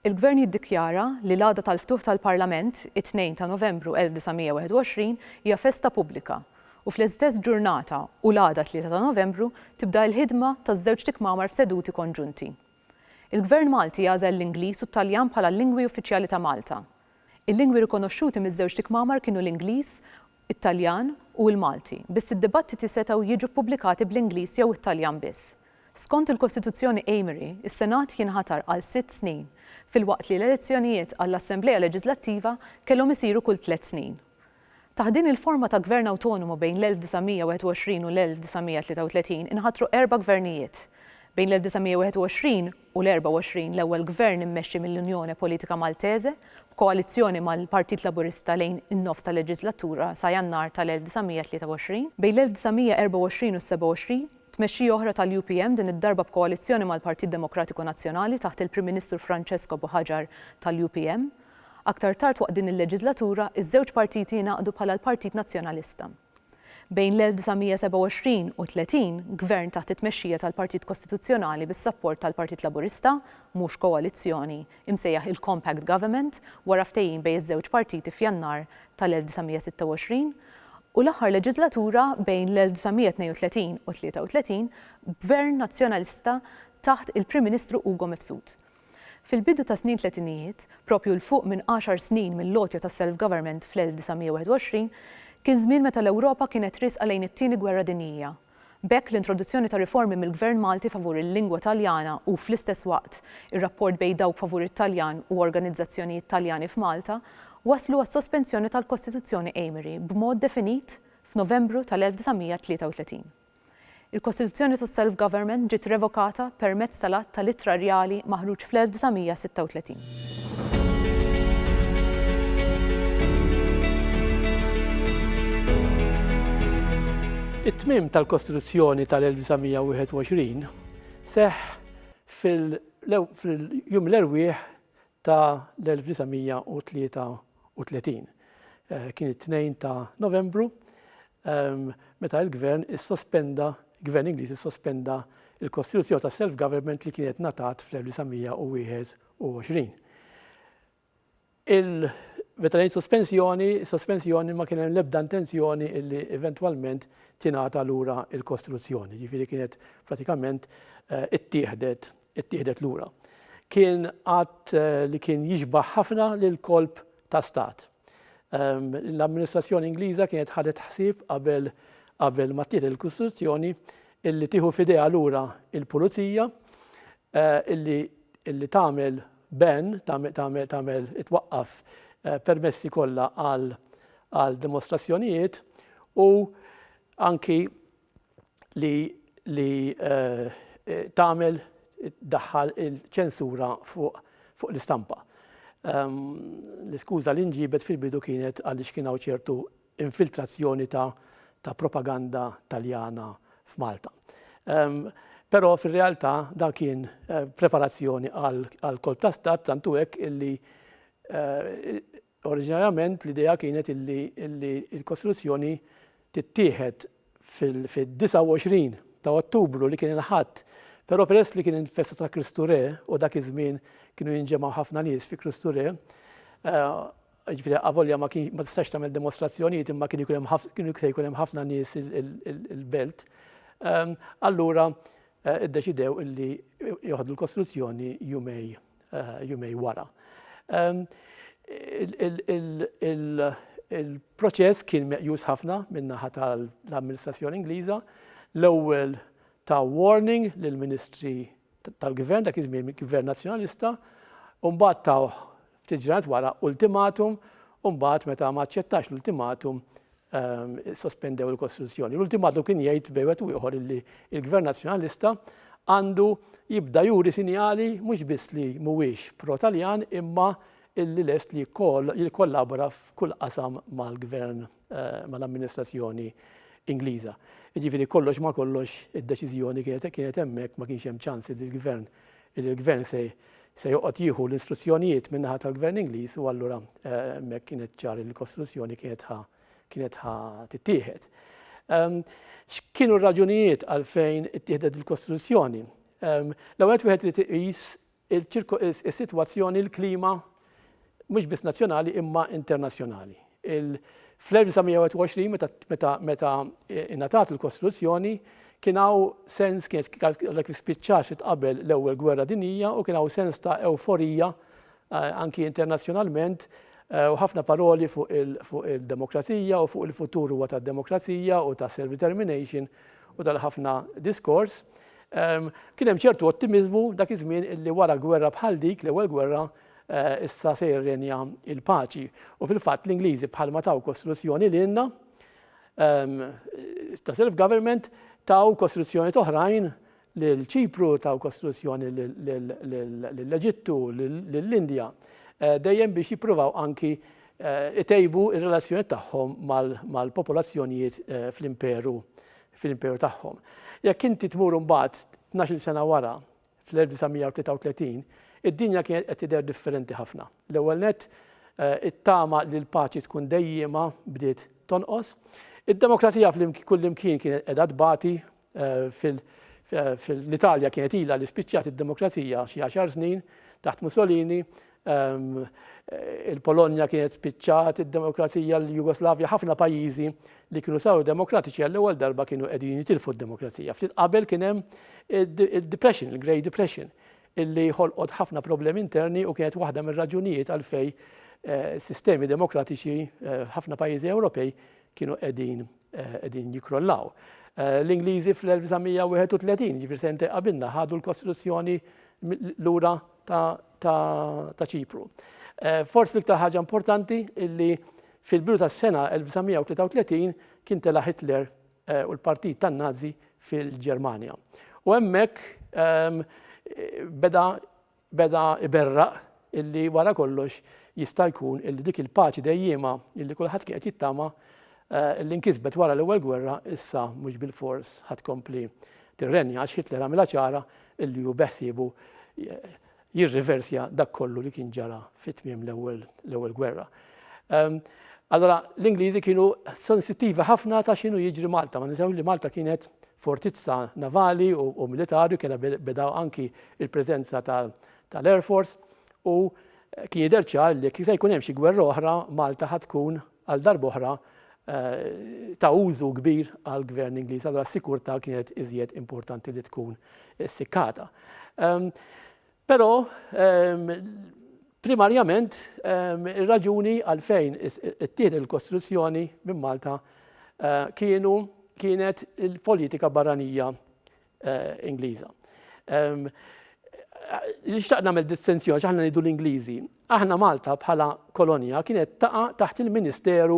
Il-Gvern jiddikjara li l-għada tal-ftuħ tal-Parlament, it-Tnejn ta' Novembru 1921, hija festa pubblika u fl-istess ġurnata u l-għada Tlieta ta' Novembru tibda l-ħidma taż-żewġt ikmamar f'seduti konġunti. Il-Gvern Malti għażel l-Ingliż u t-Taljan bħala l-lingwi uffiċjali ta' Malta. Il-lingwi rikonoxxuti miż-żewġt ikmamar kienu l-Ingliż, it-Taljan u l-Malti, biss id-dibattiti setgħu jiġu ppubblikati bl-Ingliż jew it-Taljan biss. Skont il-Kostituzzjoni Amery, is-Senat jinħatar għal sitt snin, filwaqt li l-elezzjonijiet għall-Assemblea Leġiżlattiva kellhom isiru kull tliet snin. Taħt din il-forma ta' gvern awtonomu bejn l-1921 u l-1933 inħatru erba' gvernijiet. Bejn l-1921 u l-24 l-ewwel gvern immexxi mill-Unione Politica Maltese, b'koalizzjoni mal-Partit Laburista lejn in-nofs tal-leġislatura sa Jannar tal-1923. Bejn l-1924 u s-27, tmexxija oħra tal-UPM din id-darba b'koalizzjoni mal-Partit Demokratiku Nazzjonali taħt il-Prim Ministru Francesco Buhagiar tal-UPM. Aktar tard waqt din il-leġiżlatura, iż-żewġ partiti ingħaqdu bħala l-Partit Nazzjonalista. Bejn l-1927 u 30, gvern taħt it-tmexxija tal-Partit Kostituzzjonali bis-sapport tal-Partit Laburista, mhux koalizzjoni, imsejjaħ il-Compact Government wara ftehim bejn iż-żewġ partiti f'Jannar tal-1926, u l-aħħar leġiżlatura bejn l-1932 u 33 b'Gvern Nazzjonalista taħt il-Prim Ministru Ugo Mifsud. Fil-bidu tas-snin tletinijiet, proprju 'l fuq minn għaxar snin mill-għotja tas-self-government fl-1921, kien żmien meta l-Ewropa kienet riesqa lejn it-Tieni Gwerra Dinjija. B'hekk l-introduzzjoni ta' riformi mill-Gvern Malti favur il-lingwa Taljana u, fl-istess waqt, ir-rapport bejn dawk favur it-Taljan u organizzazzjonijiet Taljani f'Malta wasslu għas-sospensjoni tal-Kostituzzjoni Amery b'mod definit f'Novembru tal-1933. Il-kostituzzjoni tas-self-government ġiet revokata permezz tal-Att tal-Ittra Rjali maħruġ fl-1936. It-tmiem tal-kostituzzjoni tal-1921 seħħ fil-jum l-erwieħ ta' l-1933. Kien it-Tnejn ta' Novembru meta il-Gvern issospenda, Gvern Ingliż issospenda l-kostituzzjoni ta' self-government li kienet ngħatat fl-1921. Meta ngħid sospensjoni, sospensjoni ma kien hemm l-ebda intenzjoni li eventwalment tingħata lura l-kostituzzjoni, jiġifieri kienet pratikament ittieħdet ittieħdet lura. Kien att li kien jixbah ħafna lil kolp ta' stat. L-amministrazzjoni Ingliża kienet ħadet ħsieb qabel qabel ma tieħed il-Kostituzzjoni illi tieħu f'idejha lura il-pulizija illi illi tagħmel ben tagħmel itwaqqaf permessi kollha għal għal dimostrazzjonijiet u anki li li tagħmel daħħal il-ċensura fuq fuq l-istampa. Ehm, l-iskuża li nġibet fil-bidu kienet għaliex kien hawn ċertu infiltrazzjoni ta' ta' propaganda taljana f'Malta. Ehm, però fir-realtà dan kien eh, preparazzjoni għal kolb ta' stat tantu hekk illi eh, Oriġinarjament l-idea kienet illi l-kostruzzjoni tittieħed fid-29 ta' Ottubru li kien il-Ħadd, però peress li kien il-festa ta' Kristu Re u dak iż-żmien kienu jinġemgħu ħafna nies fi Kristu Re, jiġifieri avolja ma tistax tagħmel dimostrazzjonijiet imma kien ikun hemm se jkun hemm ħafna nies il-belt, allura iddeċidew illi joħdu l-kostruzzjoni jumej. jumej wara. Il-proċess kien meqjus ħafna min-naħa tal-amministrazzjoni Ingliża. L-ewwel ta' warning lill-ministri tal-gvern, dak iż-żmien gvern nazzjonalista, u mbagħad tawh ftit ġranet wara ultimatum, u mbagħad meta ma aċċettax l-ultimatum issospendew il-kostruzzjoni. L-ultimatu kien jgħid bejn wieħed u ieħor illi l-Gvern Nazzjonalista għandu jibda juri sinjali mhux biss li mhuwiex pro-Taljan imma illi lest li jikkollabora f'kull qasam mal-Gvern mal-amministrazzjoni Ingliża. Jiġifieri kollox ma' kollox id-deċiżjoni kienet hemmhekk ma kienx hemm ċans li l-Gvern li l-Gvern se joqgħod jieħu l-istruzzjonijiet min-naħa tal-Gvern Ingliż u allura hemmhekk kien ċar li l-kostruzzjoni kienet ħa tittieħed. X'kienu r-raġunijiet għalfejn ittieħdet il-kostruzzjoni? L-ewwel wieħed irid iqis is-sitwazzjoni, il-klima mhux biss nazzjonali imma internazzjonali. Fl-1921 meta meta meta ingħatat il-Kostituzzjoni kien hawn sens kien kif spiċċax qabel l-ewwel gwerra dinjija u kien hawn sens ta' ewforija anki internazzjonalment u ħafna paroli fuq il-demokrazija u fuq il-futur huwa tad-demokrazija u ta' self-determination u tal-ħafna diskors. Kien hemm ċertu ottimiżmu dak iż-żmien illi wara gwerra bħal dik, l-ewwel gwerra, issa se jirrenja l-paċi. U fil-fatt l-Ingliżi bħalma taw kostituzzjoni lilna ta' self-government taw kostituzzjoni toħrajn lil Ċipru, taw kostituzzjoni lill-Eġittu, lill-Indja, dejjem biex jippruvaw anki itejbu r-relazzjonijiet tagħhom mal-popolazzjonijiet fl-imperu fil-imperu tagħhom. Jekk inti tmur imbagħad tnax-il sena wara, fl-1933, id-dinja kienet qed tidher differenti ħafna. L-ewwel nett, it-tama li l-paċi tkun dejjiema bdiet tonqos. Id-demokrazija kullimkien kienet qiegħda tbati, fil-Italja kienet ilha li spiċċat id-demokrazija xi għaxar snin taħt Mussolini, il-Polonja kienet spiċċat id-demokrazija, l-Jugoslavja, ħafna pajjiżi li kienu saru demokratiċi għall-ewwel darba kienu qegħdin jitilfu d-demokrazija. Ftit qabel kien hemm il-Depression, il-Great Depression, illi ħolqot ħafna problemi interni u kienet waħda mir-raġunijiet għalfej eh, sistemi demokratiċi eh, ħafna pajjiżi Ewropej kienu qegħdin eh, qegħdin jikrollaw. L-Ingliżi fl-1931, ġifir sente qabilna, ħadu l-Kostituzzjoni lura ta' Ċipru. Forsi l-iktar ħaġa importanti illi fil-bidu tas-sena 1933 kien tela' Hitler u l-Partit tan-Nazi fil-Ġermanja. U hemmhekk beda beda iberraq illi wara kollox jista' jkun illi dik il-paċi dejjiema illi kulħadd kien qed jittama illi nkisbet wara l-Ewwel Gwerra issa mhux bilfors ħadd tkompli tirrenja għax Hitler għamilha ċara li hu beħsiebu jirriversja dak kollu li kien ġara fi tmiem l-ewwel gwerra. Ehm, allora l-Ingliżi kienu sensittivi ħafna ta' x'inhu jiġri Malta, ma ninsewx li Malta kienet fortizza navali u militari, kena bedaw anki il-preżenza tal-Air Force u kien jidher ċar li kif jkun hemm xi gwerra oħra Malta ħad tkun għal darba oħra ta' użu kbir għall-Gvern Ingliż, allura s-sikurtà kienet iżjed importanti li tkun sikkata. Però primarjament ir-raġuni għalfejn ittieħed il-kostruzzjoni minn Malta kienu kienet il-politika barranija Ingliża. Nixtaq nagħmel distinzjoni għax aħna ngħidu l-Ingliżi. Aħna Malta bħala kolonja kienet taqa' taħt il-Ministeru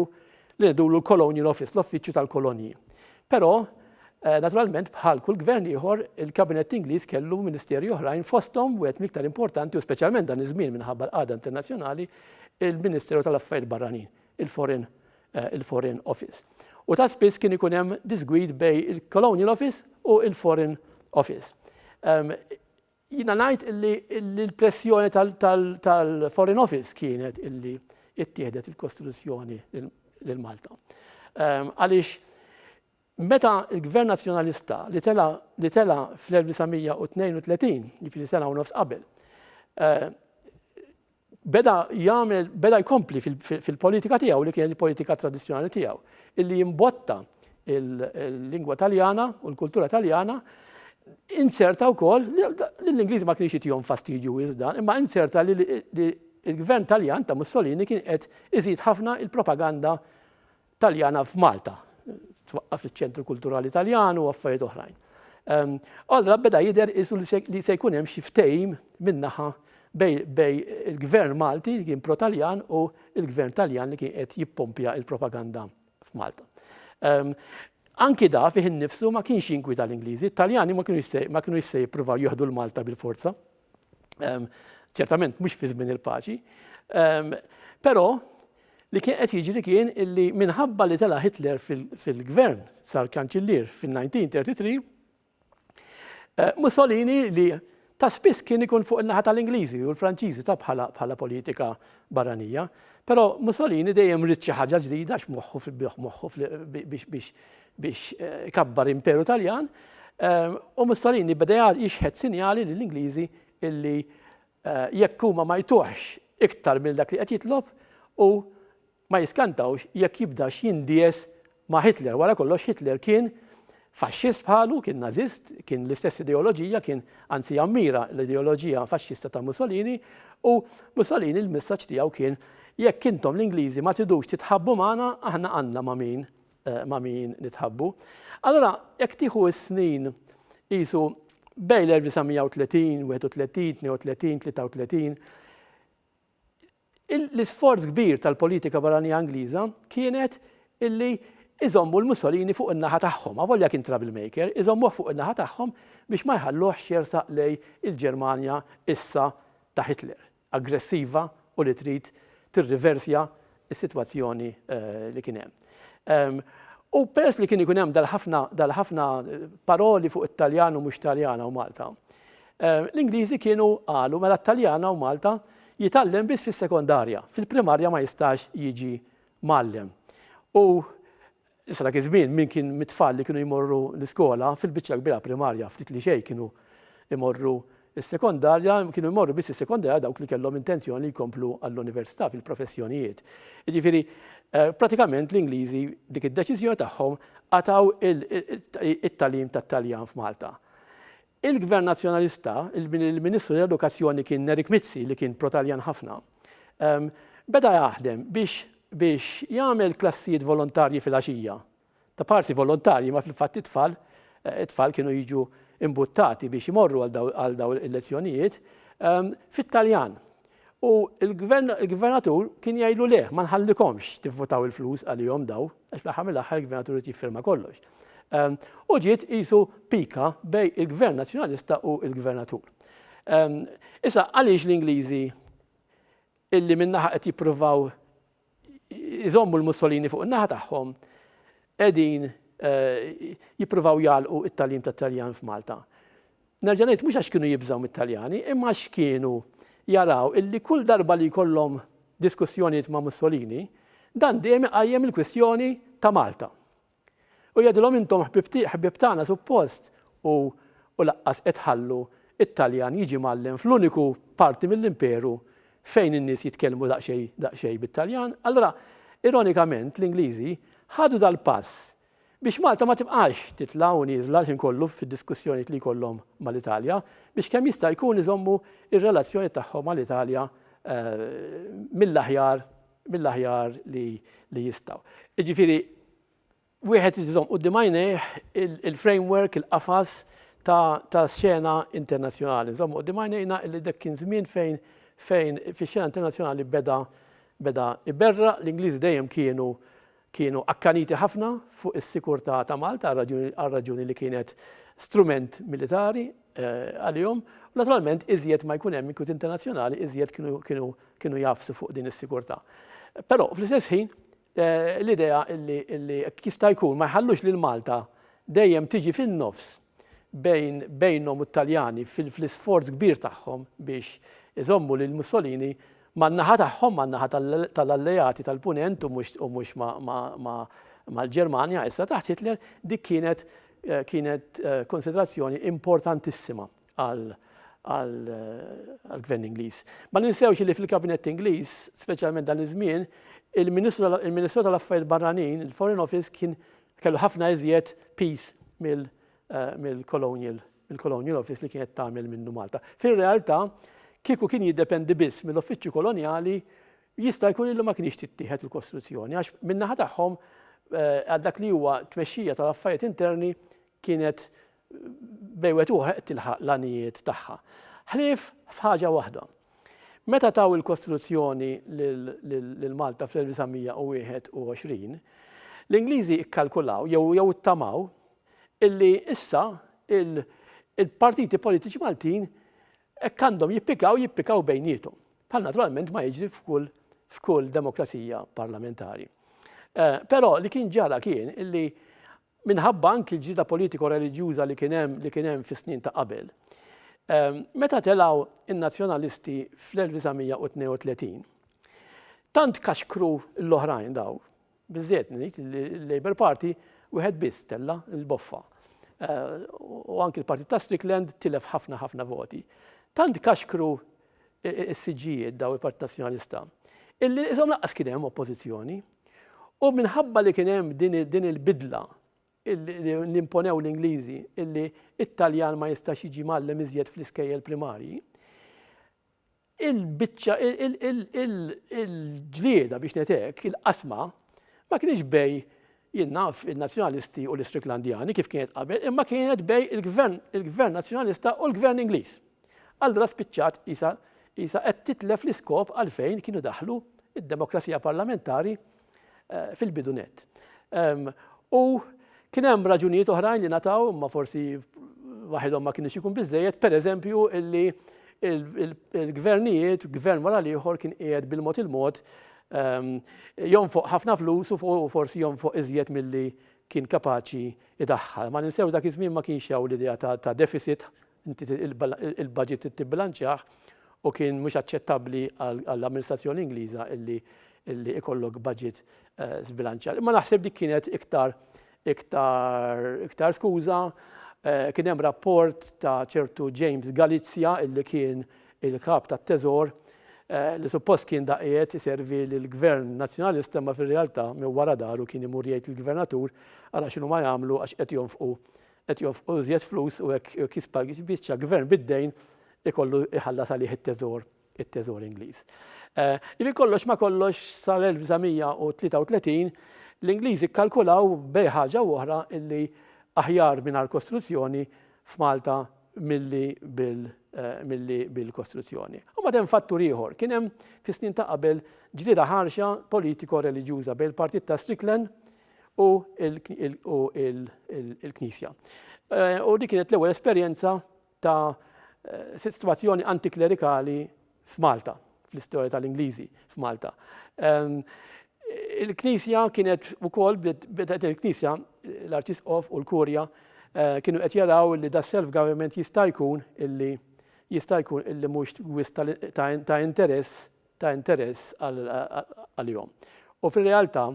li ngħidulu l-Colonial Office, l-Uffiċċju tal-Kolonji. Però eh, naturalment bħal kull gvern ieħor il-Kabinett Ingliż kellu ministeri oħrajn fosthom wieħed miktar importanti u speċjalment dan iż-żmien minħabba l-qagħda internazzjonali il-Ministeru tal-Affarijiet Barranin. il-Foreign il-Foreign Office. U ta' spiss kien ikun hemm disgwid bej il-Colonial Office u il-Foreign Office. Um, jina najt illi l-pressjoni tal-Foreign Office kienet illi ittieħdet il-Kostituzzjoni l-Malta. Ehm, għalix Meta l-Gvern Nazzjonalista li tela' li tela' fl-1932, jiġifieri sena u nofs qabel, beda jagħmel beda jkompli fil-politika tiegħu li kienet il-politika tradizzjonali tiegħu, illi jimbotta l-lingwa Taljana u l-kultura Taljana, inzerta wkoll li l-Ingliż ma kienx jitihom fastidju iżda, imma inzerta li l-Gvern Taljan ta' Mussolini kien qed iżid ħafna l-propaganda Taljana f'Malta. Twaqqaf iċ-Ċentru Kulturali Taljan u affarijiet oħrajn. Allura beda jidher isu li se jkun hemm xi ftehim min-naħa bej il-Gvern Malti li kien pro-Taljan u l-Gvern Taljan li kien qed jippompja l-propaganda f'Malta. Anki da fih innifsu ma kienx jinkwieta l-Ingliżi, it-Taljani ma kinux se jippruvaw jieħdu l-Malta bil-forza. ċertament mhux fi żmien il-paċi, però li kien qed jiġri kien illi minħabba li tela' Hitler fil-gvern sar kanċillier fin-1933, eh, Mussolini li ta' spiss kien ikun fuq in-naħa tal-Ingliżi u l-Franċiżi ta' bħala bħala politika barranija, però Mussolini dejjem rid xi ħaġa ġdida x'moħħu fil-bih moħħu biex biex ikabbar imperu Taljan, u Mussolini beda jixħet sinjali lill-Ingliżi illi jekk huma ma jtuhx iktar minn dak li qed jitlob, hu ma jiskantawx jekk jibdax jindies ma' Hitler. Wara kollox Hitler kien Faxxist bħalu, kien Nażist, kien l-istess ideoloġija, kien anzi jammira l-ideoloġija Faxxista ta' Mussolini, u Mussolini l-messaġġ tiegħu kien jekk intom l-Ingliżi ma tidux titħabbu magħna aħna għandna ma' min ma' min nitħabbu. Allura, jekk tieħu s-snin qisu bejn l-1930, 31, 32, 33, l-isforz kbir tal-politika barranija Ingliża kienet illi iżommu l-Mussolini fuq in-naħa tagħhom, avolja kien troublemaker, iżommuh fuq in-naħa tagħhom biex ma jħalluhx jersaq lejn il-Ġermanja issa ta' Hitler. aggressiva u li trid tirriversja s-sitwazzjoni li kien hemm. U peress li kien ikun hemm dal-ħafna dal-ħafna paroli fuq it-Taljan u mhux Taljana u Malta, l-Ingliżi kienu qalu mela t-Taljana u Malta jitgħallem biss fis-sekondarja, fil-primarja ma jistax jiġi mgħallem. U Issa dak iż-żmien min kien mit-tfal li kienu jmorru l-iskola, fil-biċċa kbira primarja, ftit li xejn kienu jmorru s-sekondarja, kienu jmorru biss is-sekondarja dawk li kellhom intenzjoni li jkomplu għall-università fil-professjonijiet. Jiġifieri pratikament l-Ingliżi dik id-deċiżjoni tagħhom qatgħu it-tagħlim tat-Taljan f'Malta. Il-Gvern Nazzjonalista, minn il-Ministru tal-Edukazzjoni kien Eric Mizzi li kien pro-Taljan ħafna, beda jaħdem biex biex jagħmel klassijiet volontarji fil-għaxija. Ta' parsi volontarji imma fil-fatt it-tfal it-tfal kienu jiġu imbuttati biex imorru għal daw għal daw il-lezzjonijiet fit-Taljan. U il-gvern il-gvernatur kien jgħidlu le, ma nħallikomx tivvutaw il-flus għalihom daw. Għax fl-aħħar mill-aħħar il-gvernatur irid jiffirma kollox. Ehm, u ġiet qisu pika bej il-gvern nazzjonalista u il-gvernatur. Ehm, issa, għaliex l-Ingliżi illi minnaħa qed jippruvaw iżommu l-Mussolini fuq in-naħa tagħhom qegħdin eh, jippruvaw jgħalqu it-talim tat-Taljan f'Malta. Nerġa' ngħid mhux għax kienu jibżgħu mit-Taljani imma għax kienu jaraw illi kull darba li jkollhom diskussjonijiet ma' Mussolini, dan dejjem iqajjem il-kwistjoni ta' Malta. U jgħidilhom intom ħbieb tagħna suppost u u laqqas qed tħallu t-Taljan jiġi mgħallem fl-uniku parti mill-Imperu fejn in-nies jitkellmu daqsxejn daqsxejn bit-Taljan. Allura ironikament l-Ingliżi ħadu dal-pass Biex Malta ma tibqax titla' u nieżla l-ħin kollu fid-diskussjonijiet li jkollhom mal-Italja, biex kemm jista' jkun iżommu r-relazzjonijiet tagħhom mal-Italja mill-aħjar mill-aħjar li li jistgħu. Jiġifieri wieħed irid iżomm quddiem għajnejh il-framework, il-qafas ta' ta' xena internazzjonali. Nżommu quddiem għajnejna li dak kien żmien fejn fejn fix-xena internazzjonali beda beda iberraq, l-Ingliżi dejjem kienu kienu akkaniti ħafna fuq is-sikurtà ta' Malta għar-raġuni li kienet strument militari għalihom u naturalment iżjed ma jkun hemm inkwiet internazzjonali iżjed kienu jgħafsu fuq din is-sikurtà. Però fl-istess ħin l-idea li jekk jista' jkun ma jħallux lil Malta dejjem tiġi fin-nofs bejn bejnhom u t-Taljani fil-fl-isforz kbir tagħhom biex iżommu lil Mussolini man-naħa tagħhom, man-naħa tal-Alleati tal-Punent u mhux u mhux ma' ma' ma' mal-Ġermanja issa taħt Hitler, dik kienet kienet konsiderazzjoni importantissima għal għall-Gvern Ingliż. Ma ninsewx li fil-Kabinett Ingliż, speċjalment dan iż-żmien, il-Ministru il-Ministru tal-Affarijiet Barranin, il-Foreign Office, kien Kellu ħafna iżjed piece mill-Colonial mill-Colonial Office li kienet tagħmel minnu Malta. Fir-realtà, kieku kien jiddependi biss mill-Uffiċċju Kolonjali, jista' jkun illi ma kienx tittieħed il-kostruzzjoni għax min-naħa tagħhom eh, għal dak li huwa tmexxija tal-affarijiet interni kienet bejn wieħed u ieħor qed tilħaq l-għanijiet tagħha. Ħlief f'ħaġa waħda. Meta taw il-Kostituzzjoni lil Malta fl-1921, l-Ingliżi kkalkulaw jew ittamaw illi issa il-partiti politiċi Maltin hekk għandhom jippikaw jippikaw bejnietom. Bħal naturalment ma jiġri f'kull f'kull demokrazija parlamentari. Eh, però li kien ġara kien illi minħabba anki l-ġlieda politiko-reliġjuża li kien hemm li kien hemm fis-snin ta' qabel. Meta telgħu n-Nazzjonalisti fl-1932, tant kaxkru l-oħrajn daw, biżżejjed ngħid li l-Labour Party wieħed biss tella' l-boffa. U anki l-Partit ta' Strickland tilef ħafna ħafna voti. Tant kaxkru is-siġġijiet daw il-Partit Nazzjonalista, illi qishom lanqas kien hemm oppożizzjoni. U minħabba li kien hemm din il-bidla li imponew l-Ingliżi illi it-Taljan ma jistax jiġi mgħallem iżjed fl-iskejjel primarji, il-biċċa il-ġlieda biex netek il-qasma ma kienx bej Jien naf in-Nazzjonalisti u l-Istriklandjani kif kienet qabel imma kienet bej il-Gvern il-Gvern Nazzjonalista u l-Gvern Ingliż. Allura spiċċat qisha qisha qed titlef l-iskop għalfejn kienu daħlu d-demokrazija parlamentari fil-bidu nett. U kien hemm raġunijiet oħrajn li nataw imma forsi waħedhom ma kienx ikun biżejjed, pereżempju illi il-gvernijiet, gvern wara l-ieħor kien qiegħed bil-mod il-mod jonfoq ħafna flus u forsi jonfoq iżjed milli kien kapaċi jdaħħal. Ma ninsewx dak iż-żmien ma kienx hawn l-idea ta' deficit, il-budget trid tibbilanċjah u kien mhux aċċettabbli għall-amministrazzjoni Ingliża illi ikollok budget żbilanċjat. Imma naħseb dik kienet iktar Iktar iktar skuża, kien hemm rapport ta' ċertu James Galizia illi kien il-Kap tat-Teżor li suppost kien da qiegħed iservi lill-Gvern Nazzjonalista imma fir-realtà minn wara dahru kien imur jgħid lill-Gvernatur ara x'inhuma jagħmlu għax qed jonfqu qed jonfqu iżjed flus u hekk jispiċċa Gvern bid-dejn ikollu jħallas għalih it-Teżor. it-Teżor Ingliż. Jiġifieri kollox ma' kollox sal-1933 l-Ingliżi kkalkulaw bejn ħaġa u oħra illi aħjar mingħajr kostruzzjoni f'Malta milli bil milli bil-kostruzzjoni. U mbagħad hemm fattur ieħor, kien hemm fis-snin ta' qabel ġlieda ħarxa politiko-reliġjuża bejn il-partit ta' Strickland u il-Knisja. U dik kienet l-ewwel esperjenza ta' sitwazzjoni antiklerikali f'Malta, fl-istorja tal-Ingliżi f'Malta. Il-Knisja kienet ukoll bdiet il-Knisja, l-Arċisqof u l-Kurja eh, kienu qed jaraw li da self-government jista' jkun illi jista' jkun illi mhux wis ta' interess ta' interess għalihom. U fir-realtà,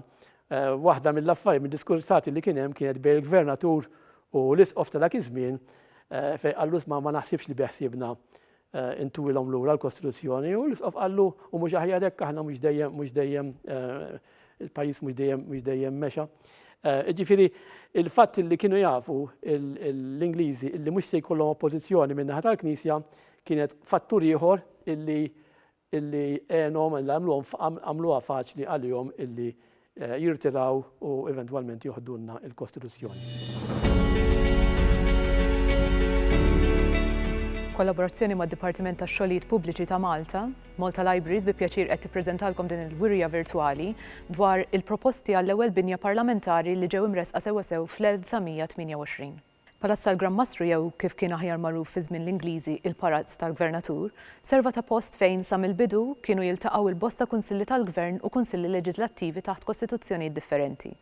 waħda mill-affarijiet, mid-diskursati li kien hemm kienet bejn il-gvernatur u l-isqof ta' dak iż-żmien fejn qallu sma' ma naħsibx li beħsiebna intuwilhom lura l-kostruzzjoni u l-isqof qallu u mhux aħjar hekk aħna mhux dejjem mhux dejjem il-pajjiż mhux dejjem mhux dejjem mexa. Ġifieri il-fatt li kienu jafu l-Ingliżi illi mhux se jkollhom oppożizzjoni min-naħa tal-Knisja kienet fattur ieħor illi illi għenhom, illi għamluhom, għamluha faċli għalihom illi jirtiraw u eventwalment joħdulna l-Kostituzzjoni. B'kollaborazzjoni mad-Dipartiment tax-Xogħlijiet Pubbliċi ta' Malta, Malta Libraries bi pjaċir qed tippreżentalkom din il-wirja virtwali dwar il-proposti għall-ewwel binja parlamentari li ġew imressqa sewwasew fl-1928. Palazz tal-Gran Mastru jew kif kien aħjar magħruf fi żmien l-Ingliżi il-Parazz tal-Gvernatur, serva ta' post fejn sa mill-bidu kienu jiltaqgħu l-bosta Kunsilli tal-Gvern u Kunsilli Leġiżlattivi taħt Kostituzzjonijiet differenti.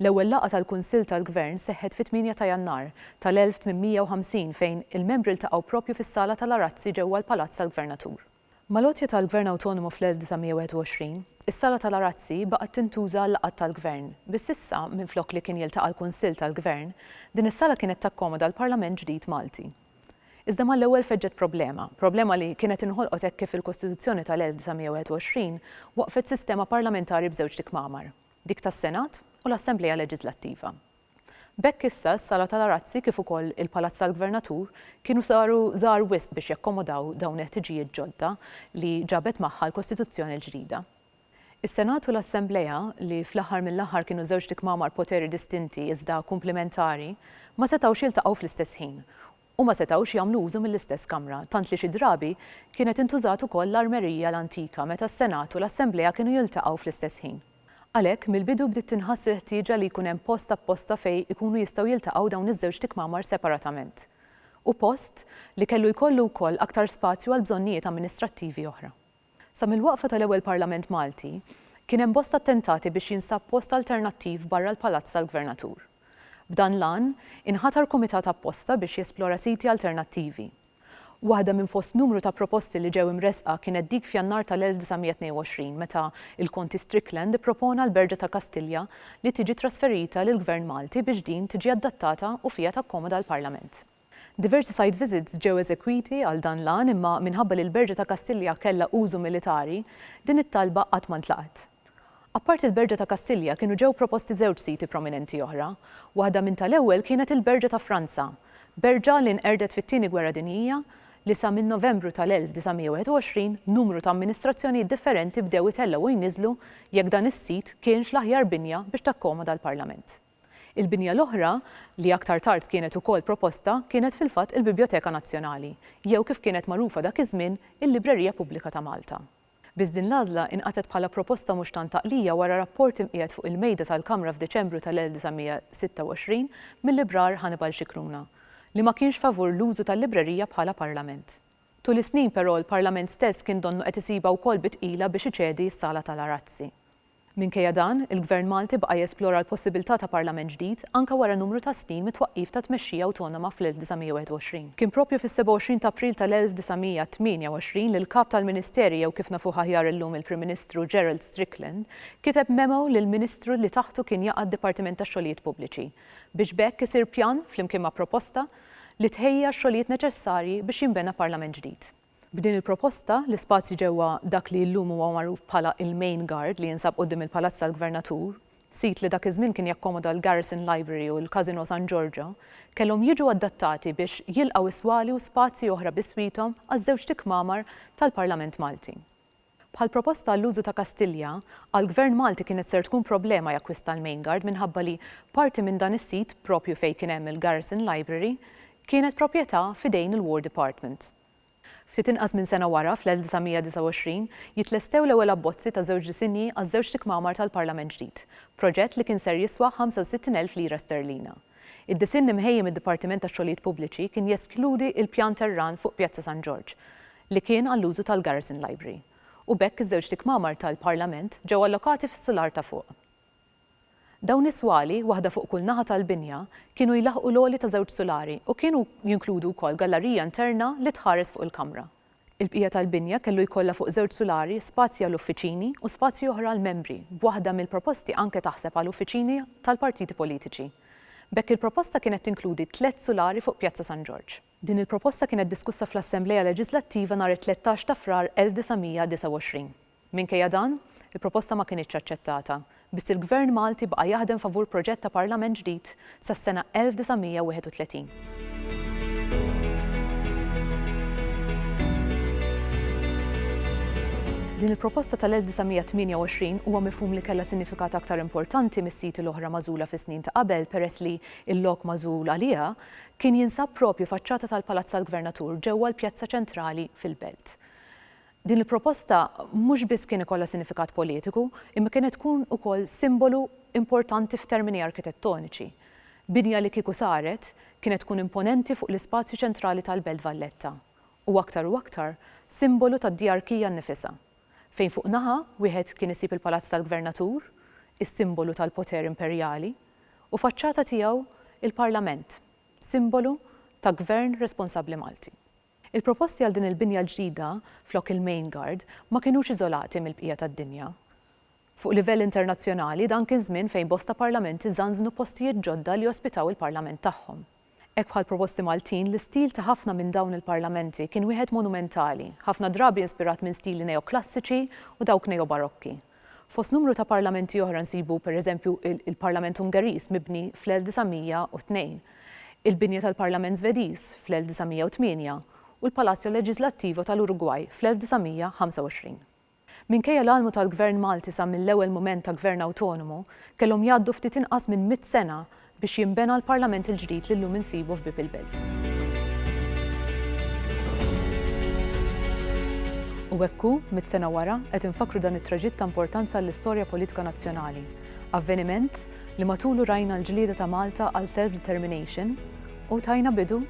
L-ewwel laqgħa tal-Kunsill tal-Gvern seħħet fit-tmienja ta' Jannar tal-1850 fejn il-membri ltaqgħu proprju fis-sala tal-Arazzi ġewwa l-Palazz tal-Gvernatur. Mal-għotja tal-Gvern Awtonomu fl-1921, is-Sala tal-Arazzi baqgħet tintuża għal-laqgħat tal-Gvern, biss issa, minflok li kien jiltaqa' l-Kunsill tal-Gvern, din is-sala kienet takkomoda l-Parlament ġdid Malti. Iżda mal-ewwel feġġet problema, problema li kienet inħolqot hekk kif fil-Kostituzzjoni tal-1921 waqqfet sistema parlamentari b'żewġt ikmamar, dik tas-Senat u l-Assemblea Leġiżlattiva. B'hekk issa s-Sala tal-Arazzi kif ukoll il-Palazz tal-Gvernatur kienu saru żgħar wisq biex jakkomodaw dawn il-ħtiġijiet ġodda li ġabet magħha l-Kostituzzjoni l-ġdida. Is-Senat u l-Assemblea, li fl-aħħar mill-aħħar kienu żewġt ikmamar poteri distinti iżda kumplimentari, ma setgħux jiltaqgħu fl-istess ħin u ma setgħux jagħmlu użu mill-istess kamra, tant li xi drabi kienet intużat ukoll l-armerija l-antika meta s-Senat u l-Assemblea kienu jiltaqgħu fl-istess ħin. Għalhekk, mill-bidu bdiet tinħass il-ħtieġa li jkun hemm post apposta fejn ikunu jistgħu jiltaqgħu dawn iż-żewġ tikmamar separatament u post li kellu jkollu wkoll aktar spazju għal bżonnijiet amministrattivi oħra. Sa mill-waqfa tal-ewwel Parlament Malti, kien hemm bosta attentati biex jinstab post alternattiv barra l-Palazz tal-Gvernatur. B'dan l-għan, inħatar kumitat apposta biex jesplora siti alternattivi. Waħda minn fost numru ta' proposti li ġew imressqa kienet dik f'Jannar tal-1922 meta l-Konti Strickland ippropona l-Berġa ta' Kastilja li tiġi trasferita lill-Gvern Malti biex din tiġi adattata u fiha takkomoda l-Parlament. Diversi site visits ġew eżekwiti għal dan l-għan imma minħabba li l-Berġa ta' Kastilja kellha użu militari, din it-talba qatt ma ntlaqgħet. Apparti l-Berġa ta' Kastilja kienu ġew proposti żewġ siti prominenti oħra. Waħda minn tal-ewwel kienet il-Berġa ta' Franza, berġa li nqerdet fit-Tieni Gwerra Dinjija li sa minn Novembru tal-1921 numru ta' amministrazzjonijiet differenti bdew itellgħu u jniżżlu jekk dan is-sit kienx l-aħjar binja biex takkomoda l-Parlament. Il-binja l-oħra, li aktar tard kienet ukoll proposta, kienet fil-fatt il-Bibjoteka Nazzjonali, jew kif kienet magħrufa dak iż-żmien, il-Librerija Pubblika ta' Malta. Biss din l-għażla inqatgħet bħala proposta mhux tant għaqlija wara rapport imqiegħed fuq il-Mejda tal-Kamra f'Diċembru tal-1926 mil-Librar Hannibal Scicluna, li ma kienx favur l-użu tal-librerija bħala parlament. Tul is-snin, però, l-parlament stess kien donnu qed isibha wkoll bi tqila biex iċedi s-Sala tal-Arazzi. Minkejja dan, il-Gvern Malti baqa' jesplora l-possibilità ta' Parlament ġdid anke wara numru ta' snin mit-twaqqif ta' tmexxija awtonoma fl-1921. Kien proprju fis-27 ta' April tal-1928 li l-Kap tal-Ministeri jew kif nafuh aħjar illum il-Prim Ministru Gerald Strickland kiteb memo lill-Ministru li taħtu kien jaqa' d-Dipartiment tax-Xogħlijiet Pubbliċi biex b'hekk isir pjan flimkien ma' proposta li tħejja x-xogħlijiet neċessarji biex jinbena Parlament ġdid. B'din il-proposta, l-ispazju ġewwa dak li illum huwa magħruf bħala il-Main Guard li jinsab quddiem il-Palazz tal-Gvernatur, sit li dak iż-żmien kien jakkomoda l-Garrison Library u l-Casino San Giorgio, kellhom jiġu adattati biex jilqgħu is-swali u spazji oħra biswithom għaż-żewġt ikmamar tal-Parlament Malti. Bħall-proposta għall-użu ta' Kastilja, għall-Gvern Malti kienet ser tkun problema jakkwista l-Main Guard minħabba li parti minn dan is-sit, proprju fejn kien hemm il-Garrison Library, kienet proprjetà f'idejn il-War Department. Ftit inqas minn sena wara, fl-1929, jitlestew l-ewwel abbozzi ta' żewġ disinji għaż-żewġt ikmamar tal-Parlament ġdid, proġett li kien ser jiswa 65,000 lira sterlina. Id-disinn imħejji mid-Dipartiment tax-Xogħlijiet Pubbliċi kien jeskludi l-pjan tar-rann fuq Pjazza San Ġorġ, li kien għall-użu tal-Garrison Library, u b'hekk iż-żewġt ikmamar tal-Parlament ġew allokati fis-sular ta' fuq. Dawn is-swali, waħda fuq kull naħa tal-binja, kienu jlaħħqu l-għoli ta' żewġ sulari u kienu jinkludu wkoll gallarija interna li tħares fuq il-Kamra. Il-bqija tal-binja kellu jkollha fuq żewġ sulari spazji għal uffiċini u spazji oħra għall-membri, b'waħda mill-proposti anke taħseb għal uffiċini tal-partiti politiċi. B'hekk il-proposta kienet tinkludi tliet sulari fuq Pjazza San Ġorġ. Din il-proposta kienet diskussa fl-Assemblea Leġiżlattiva nhar it-tlettax ta' Frar 1929. Minkejja dan, il-proposta ma kinitx aċċettata, biss il-Gvern Malti baqa' jaħdem favur proġett ta' Parlament ġdid sas-sena 1931. Din il-proposta tal-1928 huwa mifhum li kellha sinifikat aktar importanti mis-siti l-oħra magħżula fis-snin ta' qabel peress li l-lok magħżul għaliha Kien jinsab propju faċċata tal-Palazz tal-Gvernatur ġewwa l-pjazza ċentrali fil-Belt. Din il-proposta mhux biss kien ikollha sinifikat politiku imma kienet tkun ukoll simbolu importanti f'termini arkitettoniċi. Binja li kieku saret kienet tkun imponenti fuq l-ispazju ċentrali tal-Belt Valletta u aktar u aktar simbolu tad-djarkija nnifisha. fejn fuq naħa wieħed kien isib il-palazz tal-gvernatur, is-simbolu tal-poter imperjali, u faċċata tiegħu il-parlament, simbolu ta' gvern responsabbli Malti. Il-proposti għal din il-binja l-ġdida flok il-Main Guard ma kinux iżolati mill-bqija tad-dinja. Fuq livell internazzjonali dan kien żmien fejn bosta parlamenti żanżnu postijiet ġodda li ospitaw il-parlament tagħhom. Hekk bħal proposti Maltin, l-istil ta' ħafna minn dawn il-parlamenti kien wieħed monumentali, ħafna drabi inspirat minn stili neoklassiċi u dawk neobarokki. Fost numru ta' parlamenti oħra nsibu, per eżempju, il-parlament Ungeriż mibni fl-1902, il-binja tal-parlament Żvediż fl-1908 u l-Palacio Legislativo tal-Urugwaj fl-1925. Minkejja l-għalmu tal-Gvern Malti sa mill-ewwel mument ta' Gvern awtonomu, kellhom jgħaddu ftit inqas minn mitt sena biex jinbena l-Parlament il-ġdid li llum insibu f'bieb il-Belt. U hekk hu, mitt sena wara, qed infakkru dan it-traġitt ta' importanza għall-istorja politika nazzjonali, avveniment li matulu rajna l-ġlieda ta' Malta għal self-determination u tajna bidu,